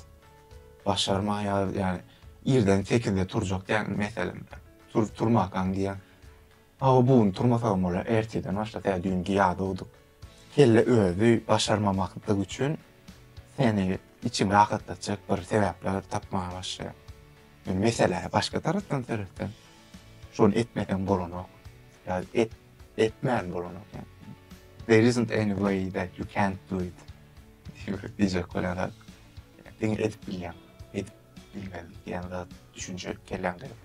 Başarmaýarys, ýagny irden sekizde turjak dälmi meselem, tur-turmakaň diýýän. Hawa bu gün turmasagam bolar, ertirden başlasaý, düýn ýadawdyk. Kelle özi başarmamaklyk üçin seni içiňi rahatlatjak bir sebäpler tapmaga başlaýar. Men meselä başga tarapdan seretsem, şony etmeseň bolanok, ýa et, etmän bolanok ýa There isn't any way that you can't do it diýjek bolýarlar. Diňe edip bilýäň, edip bilmeli diýen zat, düşünje kelläňde ýok.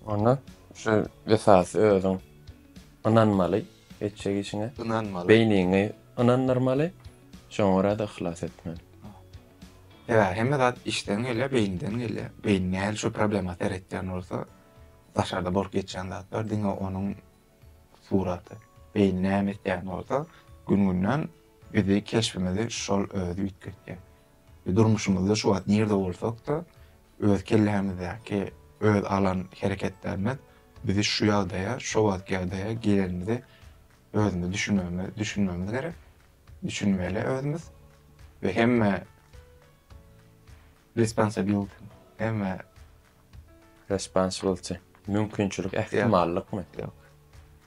Onda şu esasy özüň ynanmaly. etjek işiňe ynanmaly. Beýniňi ynandyrmaly, şoňa görä-de yhlas etmeli. Sebäbi hemme zat içden gelýär, beýinden gelýär. Beýin nähili şu problema seretýän bolsa, daşarda bolup geçýän zatlar diňe onuň suraty. Beýin näme etýän bolsa, gün-günden bizi, keşbimizi şol özi üýtgetýär. Durmuşymyzda şu wagt nirde bolsak-da, Öz kellämizdäki öz alan hereketlerimiz bizi şu ýagdaýa, şo wagtky ýagdaýa gelenimizi özümiz düşünmegimiz düşünmegimiz gerek. Düşünmeli özümiz we hemme responsibility, hemme Responsibility, mümkinçilik, ähtimallykmy? Ýok.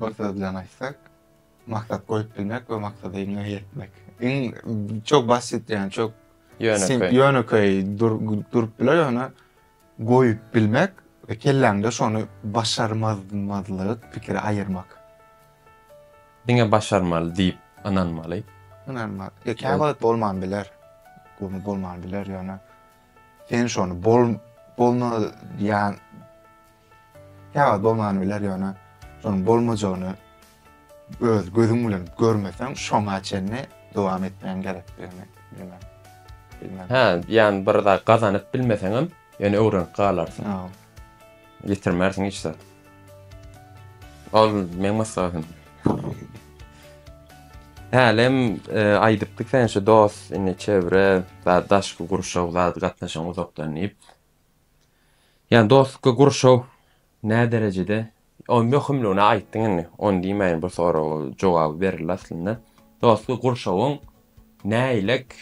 Bir söz bilen aýtsak, maksat goýup bilmek we maksada iňňe ýetmek. Iň çok basit ýani çok ýönekeý. Ýönekeý durup biler ýöne goýup bilmek we kelläňde şony başarmazmazlygy pikiri aýyrmak. Diňe başarmaly diýip ynanmaly. Ynanmaly. E, kä wagt bolman biler. Göni bolman biler ýöne sen şony bol bolma ýan Ýa-da bolman biler, ýöne şonuň bolmajagyny öz gözüň bilen görmeseň, şoňa çenli dowam etmegiň gerekdigini bilmeli. Hä, ýagny bir zat gazanyp bilmeseňem, ýöne öwrenip galarsyň. Ýitirmersiň hiç zat. Ol meň maslahatym. Hälem e, aýdypdyk sen şu dost, indi çewre, daşky gurşaw zady gatnaşygyň uzakdan diýip. Ýa dostlukly gurşaw näderejede o möhümligini aýtdyň indi ony diýmäýin bu soraga jogaby berildi aslynda. Dostlukly gurşawyň näilek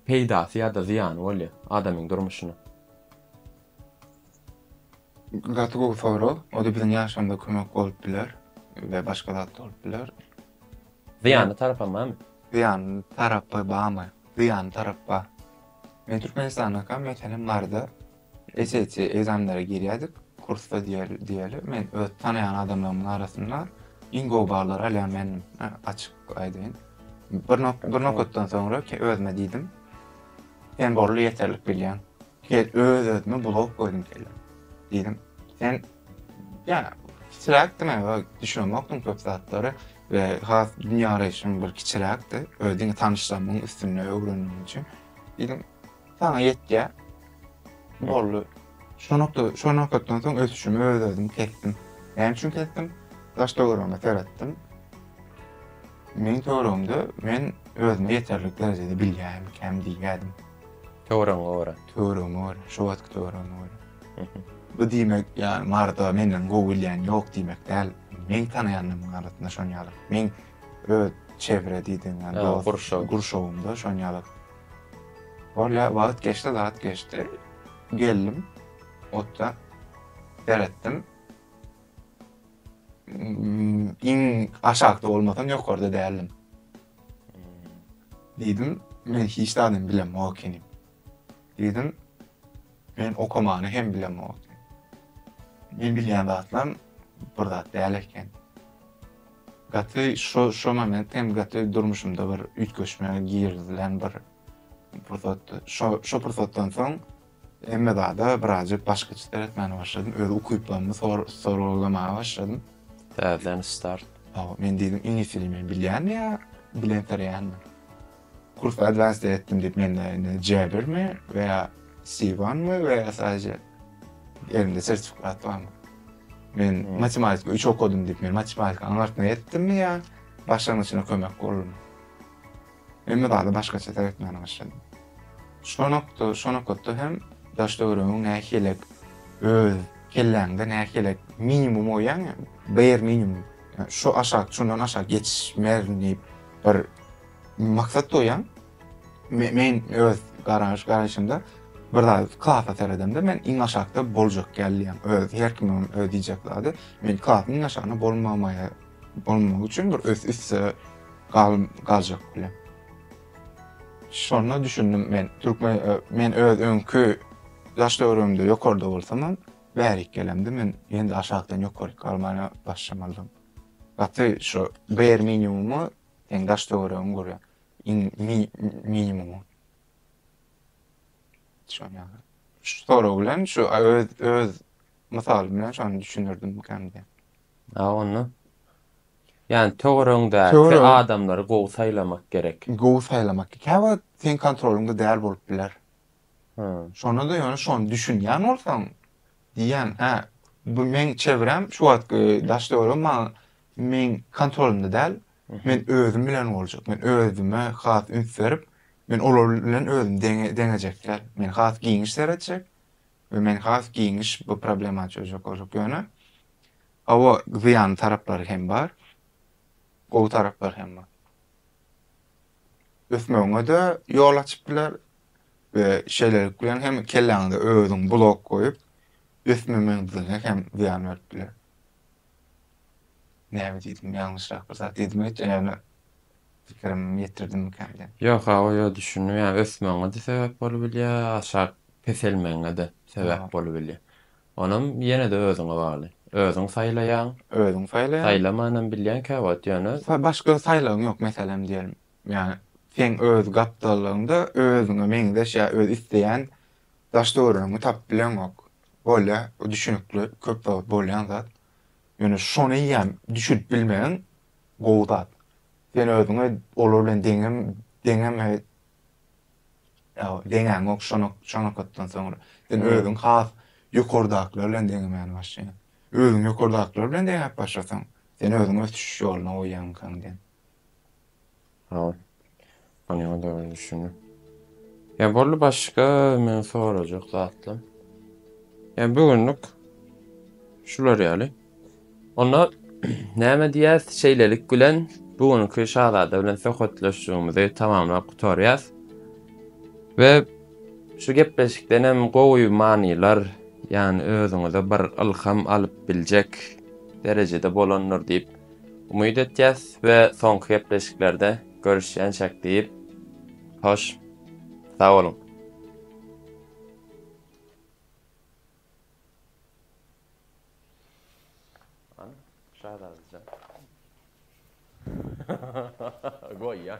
peýdasy ýa-da zyýany bolýar adamyň durmuşyna? Gaty gowy sorag. Ol-da biziň ýaşamyza kömek bolup biler we başga zat da bolup biler. Zyýanly tarapam barmy? Zyýanly tarapy barmy? Zyýanly tarap bar. Men Türkmenistandaka meselem barda SAT ekzamenlere girýädik, kursda diýeli, men öz tanaýan adamlarymyň arasynda iň gowy ballary alýan mendim, açyk aýdaýyn. Bir bir nokatdan soňra özüme diýdim, sen borly ýeterlik bilýäň. Öz-özüme bulawuk goýdum kellä. Diýdim, sen Yani kiçiräkdi men düşünemokdym köp zatlary we has dünýä garaýşym bir kiçiräkdi. Öý diňe tanyşlarymyň üstünde öwrendim üçin. Diýdim, sana ýetýär. Boldy. Şu nokta, şu nokatdan soň ösüşimi öz özüm kesdim. Näme üçin kesdim? Daş töweregime seretdim. Meň töweregimde men özümi ýeterlik derejede bilýämikäm diýýärdim. Töweregiňe görä. Töweregiňe görä, şo wagtky töweregiňe görä. Bu diýmek, ýa Marda menden gowy bilýän ýok diýmek däl. Meň tanaýanlarymyň arasynda şon ýaly. Meň öz çevre diýdiň, ýa dost gurşawymda şon ýaly. Bolýar, wagt geçdi, zat geçdi. Geldim, otda seretdim. Iň aşakda bolmasam ýokarda däldim. Diýdim, men hiç zadam bilemok ekeni. Diýdim, men okamany hem bilemok. Men bilýän zatlam bir zat däl eken. Gaty şu şu moment hem gaty durmuşymda bir üýtgeşme girizilen bir pursatdy. Şu şu pursatdan soň Hemme zada birazjyk başgaça seretmäne başladym. Öz ukyplarymy soragylamaga başladym. Täzeden start. Hawa, men diýdim, iňlis dilini men bilýänmi ýa bilensireýänmi? Kurs advanced etdim diýip mende indi C1 mi we ýa C1 mi we ýa sadece elimde sertifikat barmy? Men matematika üç okadym diýip men matematika aňartma etdimmi ýa başlangyçyna kömek boldumy? Hemme zady başgaça seretmäne başladym. Şo nokda, şo nokatda hem daş-töweregiň nähilek, öz kelläňde nähilek minimum oýaň ýa bare minimum, ýa şo aşak, şundan aşak geçmerin diýip bir maksat goýaň. Men öz garaş, garaýşymda bir zat klasa seredemde men iň aşakda boljak ýaly diýýän. Öz, her kimiň öz diýjek zady. Men klasy iň aşagynda bolmamaýa. bolmagy üçin bir ös üste galym galjak bilen. Şonda düşündim men, türkmen e, men öz öňki ýaş döwrümde ýokarda bolsamam, bärik gelemde men ýene aşakdan ýokary galmana başlamalydym. Gaty şu ber minimumy sen daş töweregiň görýär. Iň minimumy. Şonýa. Şu soraw bilen şu öz öz Mysal bilen şony düşündirdim kän diýen. A onda Yani töweregiňdäki adamlary gowy saýlamak gerek. Gowy saýlamak. Käwagt seň kontrolyňda däl bolup biler. Şonda da ýöne şony düşünýän bolsaň diýýän, hä, bu meň çevrem şu wagtky daş döwrüm maňa meň kontrolymda däl. Men özüm bilen boljak. Men özüme has üns berip, men olar bilen özümi deňejek däl. Men has giňiş seretjek. we men has giňiş bu problema çözjek boljak ýöne hawa zyýanly taraplary hem bar gowy taraplary hem bar ösmegiňede ýol açyp biler we şeýlelik bilen hem kelläňize özüň blok goýup ösmemezligiňe hem zyýan berip biler Näme diýdim, ýalňyşrak bir zat diýdimi hiç öne pikirimi ýetirdimmikän diýen. Ýok awa ýok düşündim ýa ösmegiňede sebäp bolubilýä aşak peselmegiňede sebäp bolubilýä onam ýenede özüňe bagly özüň saýlaýaň özüň saýlaýaň saýlamanam bilýäň käwagt ýöne başga saýlagyň ýok meselem diýelim ýa seň öz gapdallygyňda özüňe meňzeş ýa öz isleýän daş döwrüňi tapyp bileňok bolýa bu düşünikli köp wagt bolýan zat. Ýöne şoneýýäm düşünip bilmegiň gowy zat. Sen özüňe olar bilen deňem deňem ýa-da deňäňok şona şo nokatdan soňra. Sen özüň has ýokardakylar bilen deňemäni başlaýaň. Özüň ýokardakylar bilen deňäp başlasaň, sen özüňi ösüş ýoluna goýýaňkaň diýen. Hol. Ony onda göz düşündim. Ya bolly başga men sorajak zatla. Ya bu günlük şular ýaly. Onda näme diýýäs? Şeýlelik bilen bu günki şazada bilen söhbetleşigimizi tamamlap gutarýas. Ve şu gepleşikden hem gowy manylar, yani özüňize bir ylham alyp biljek derejede bolandyr diýip Umyt etýäs we soňky gepleşiklerde görüşýänçäk diýip, hoş, sag boluň! Şazadajan. Goýýan.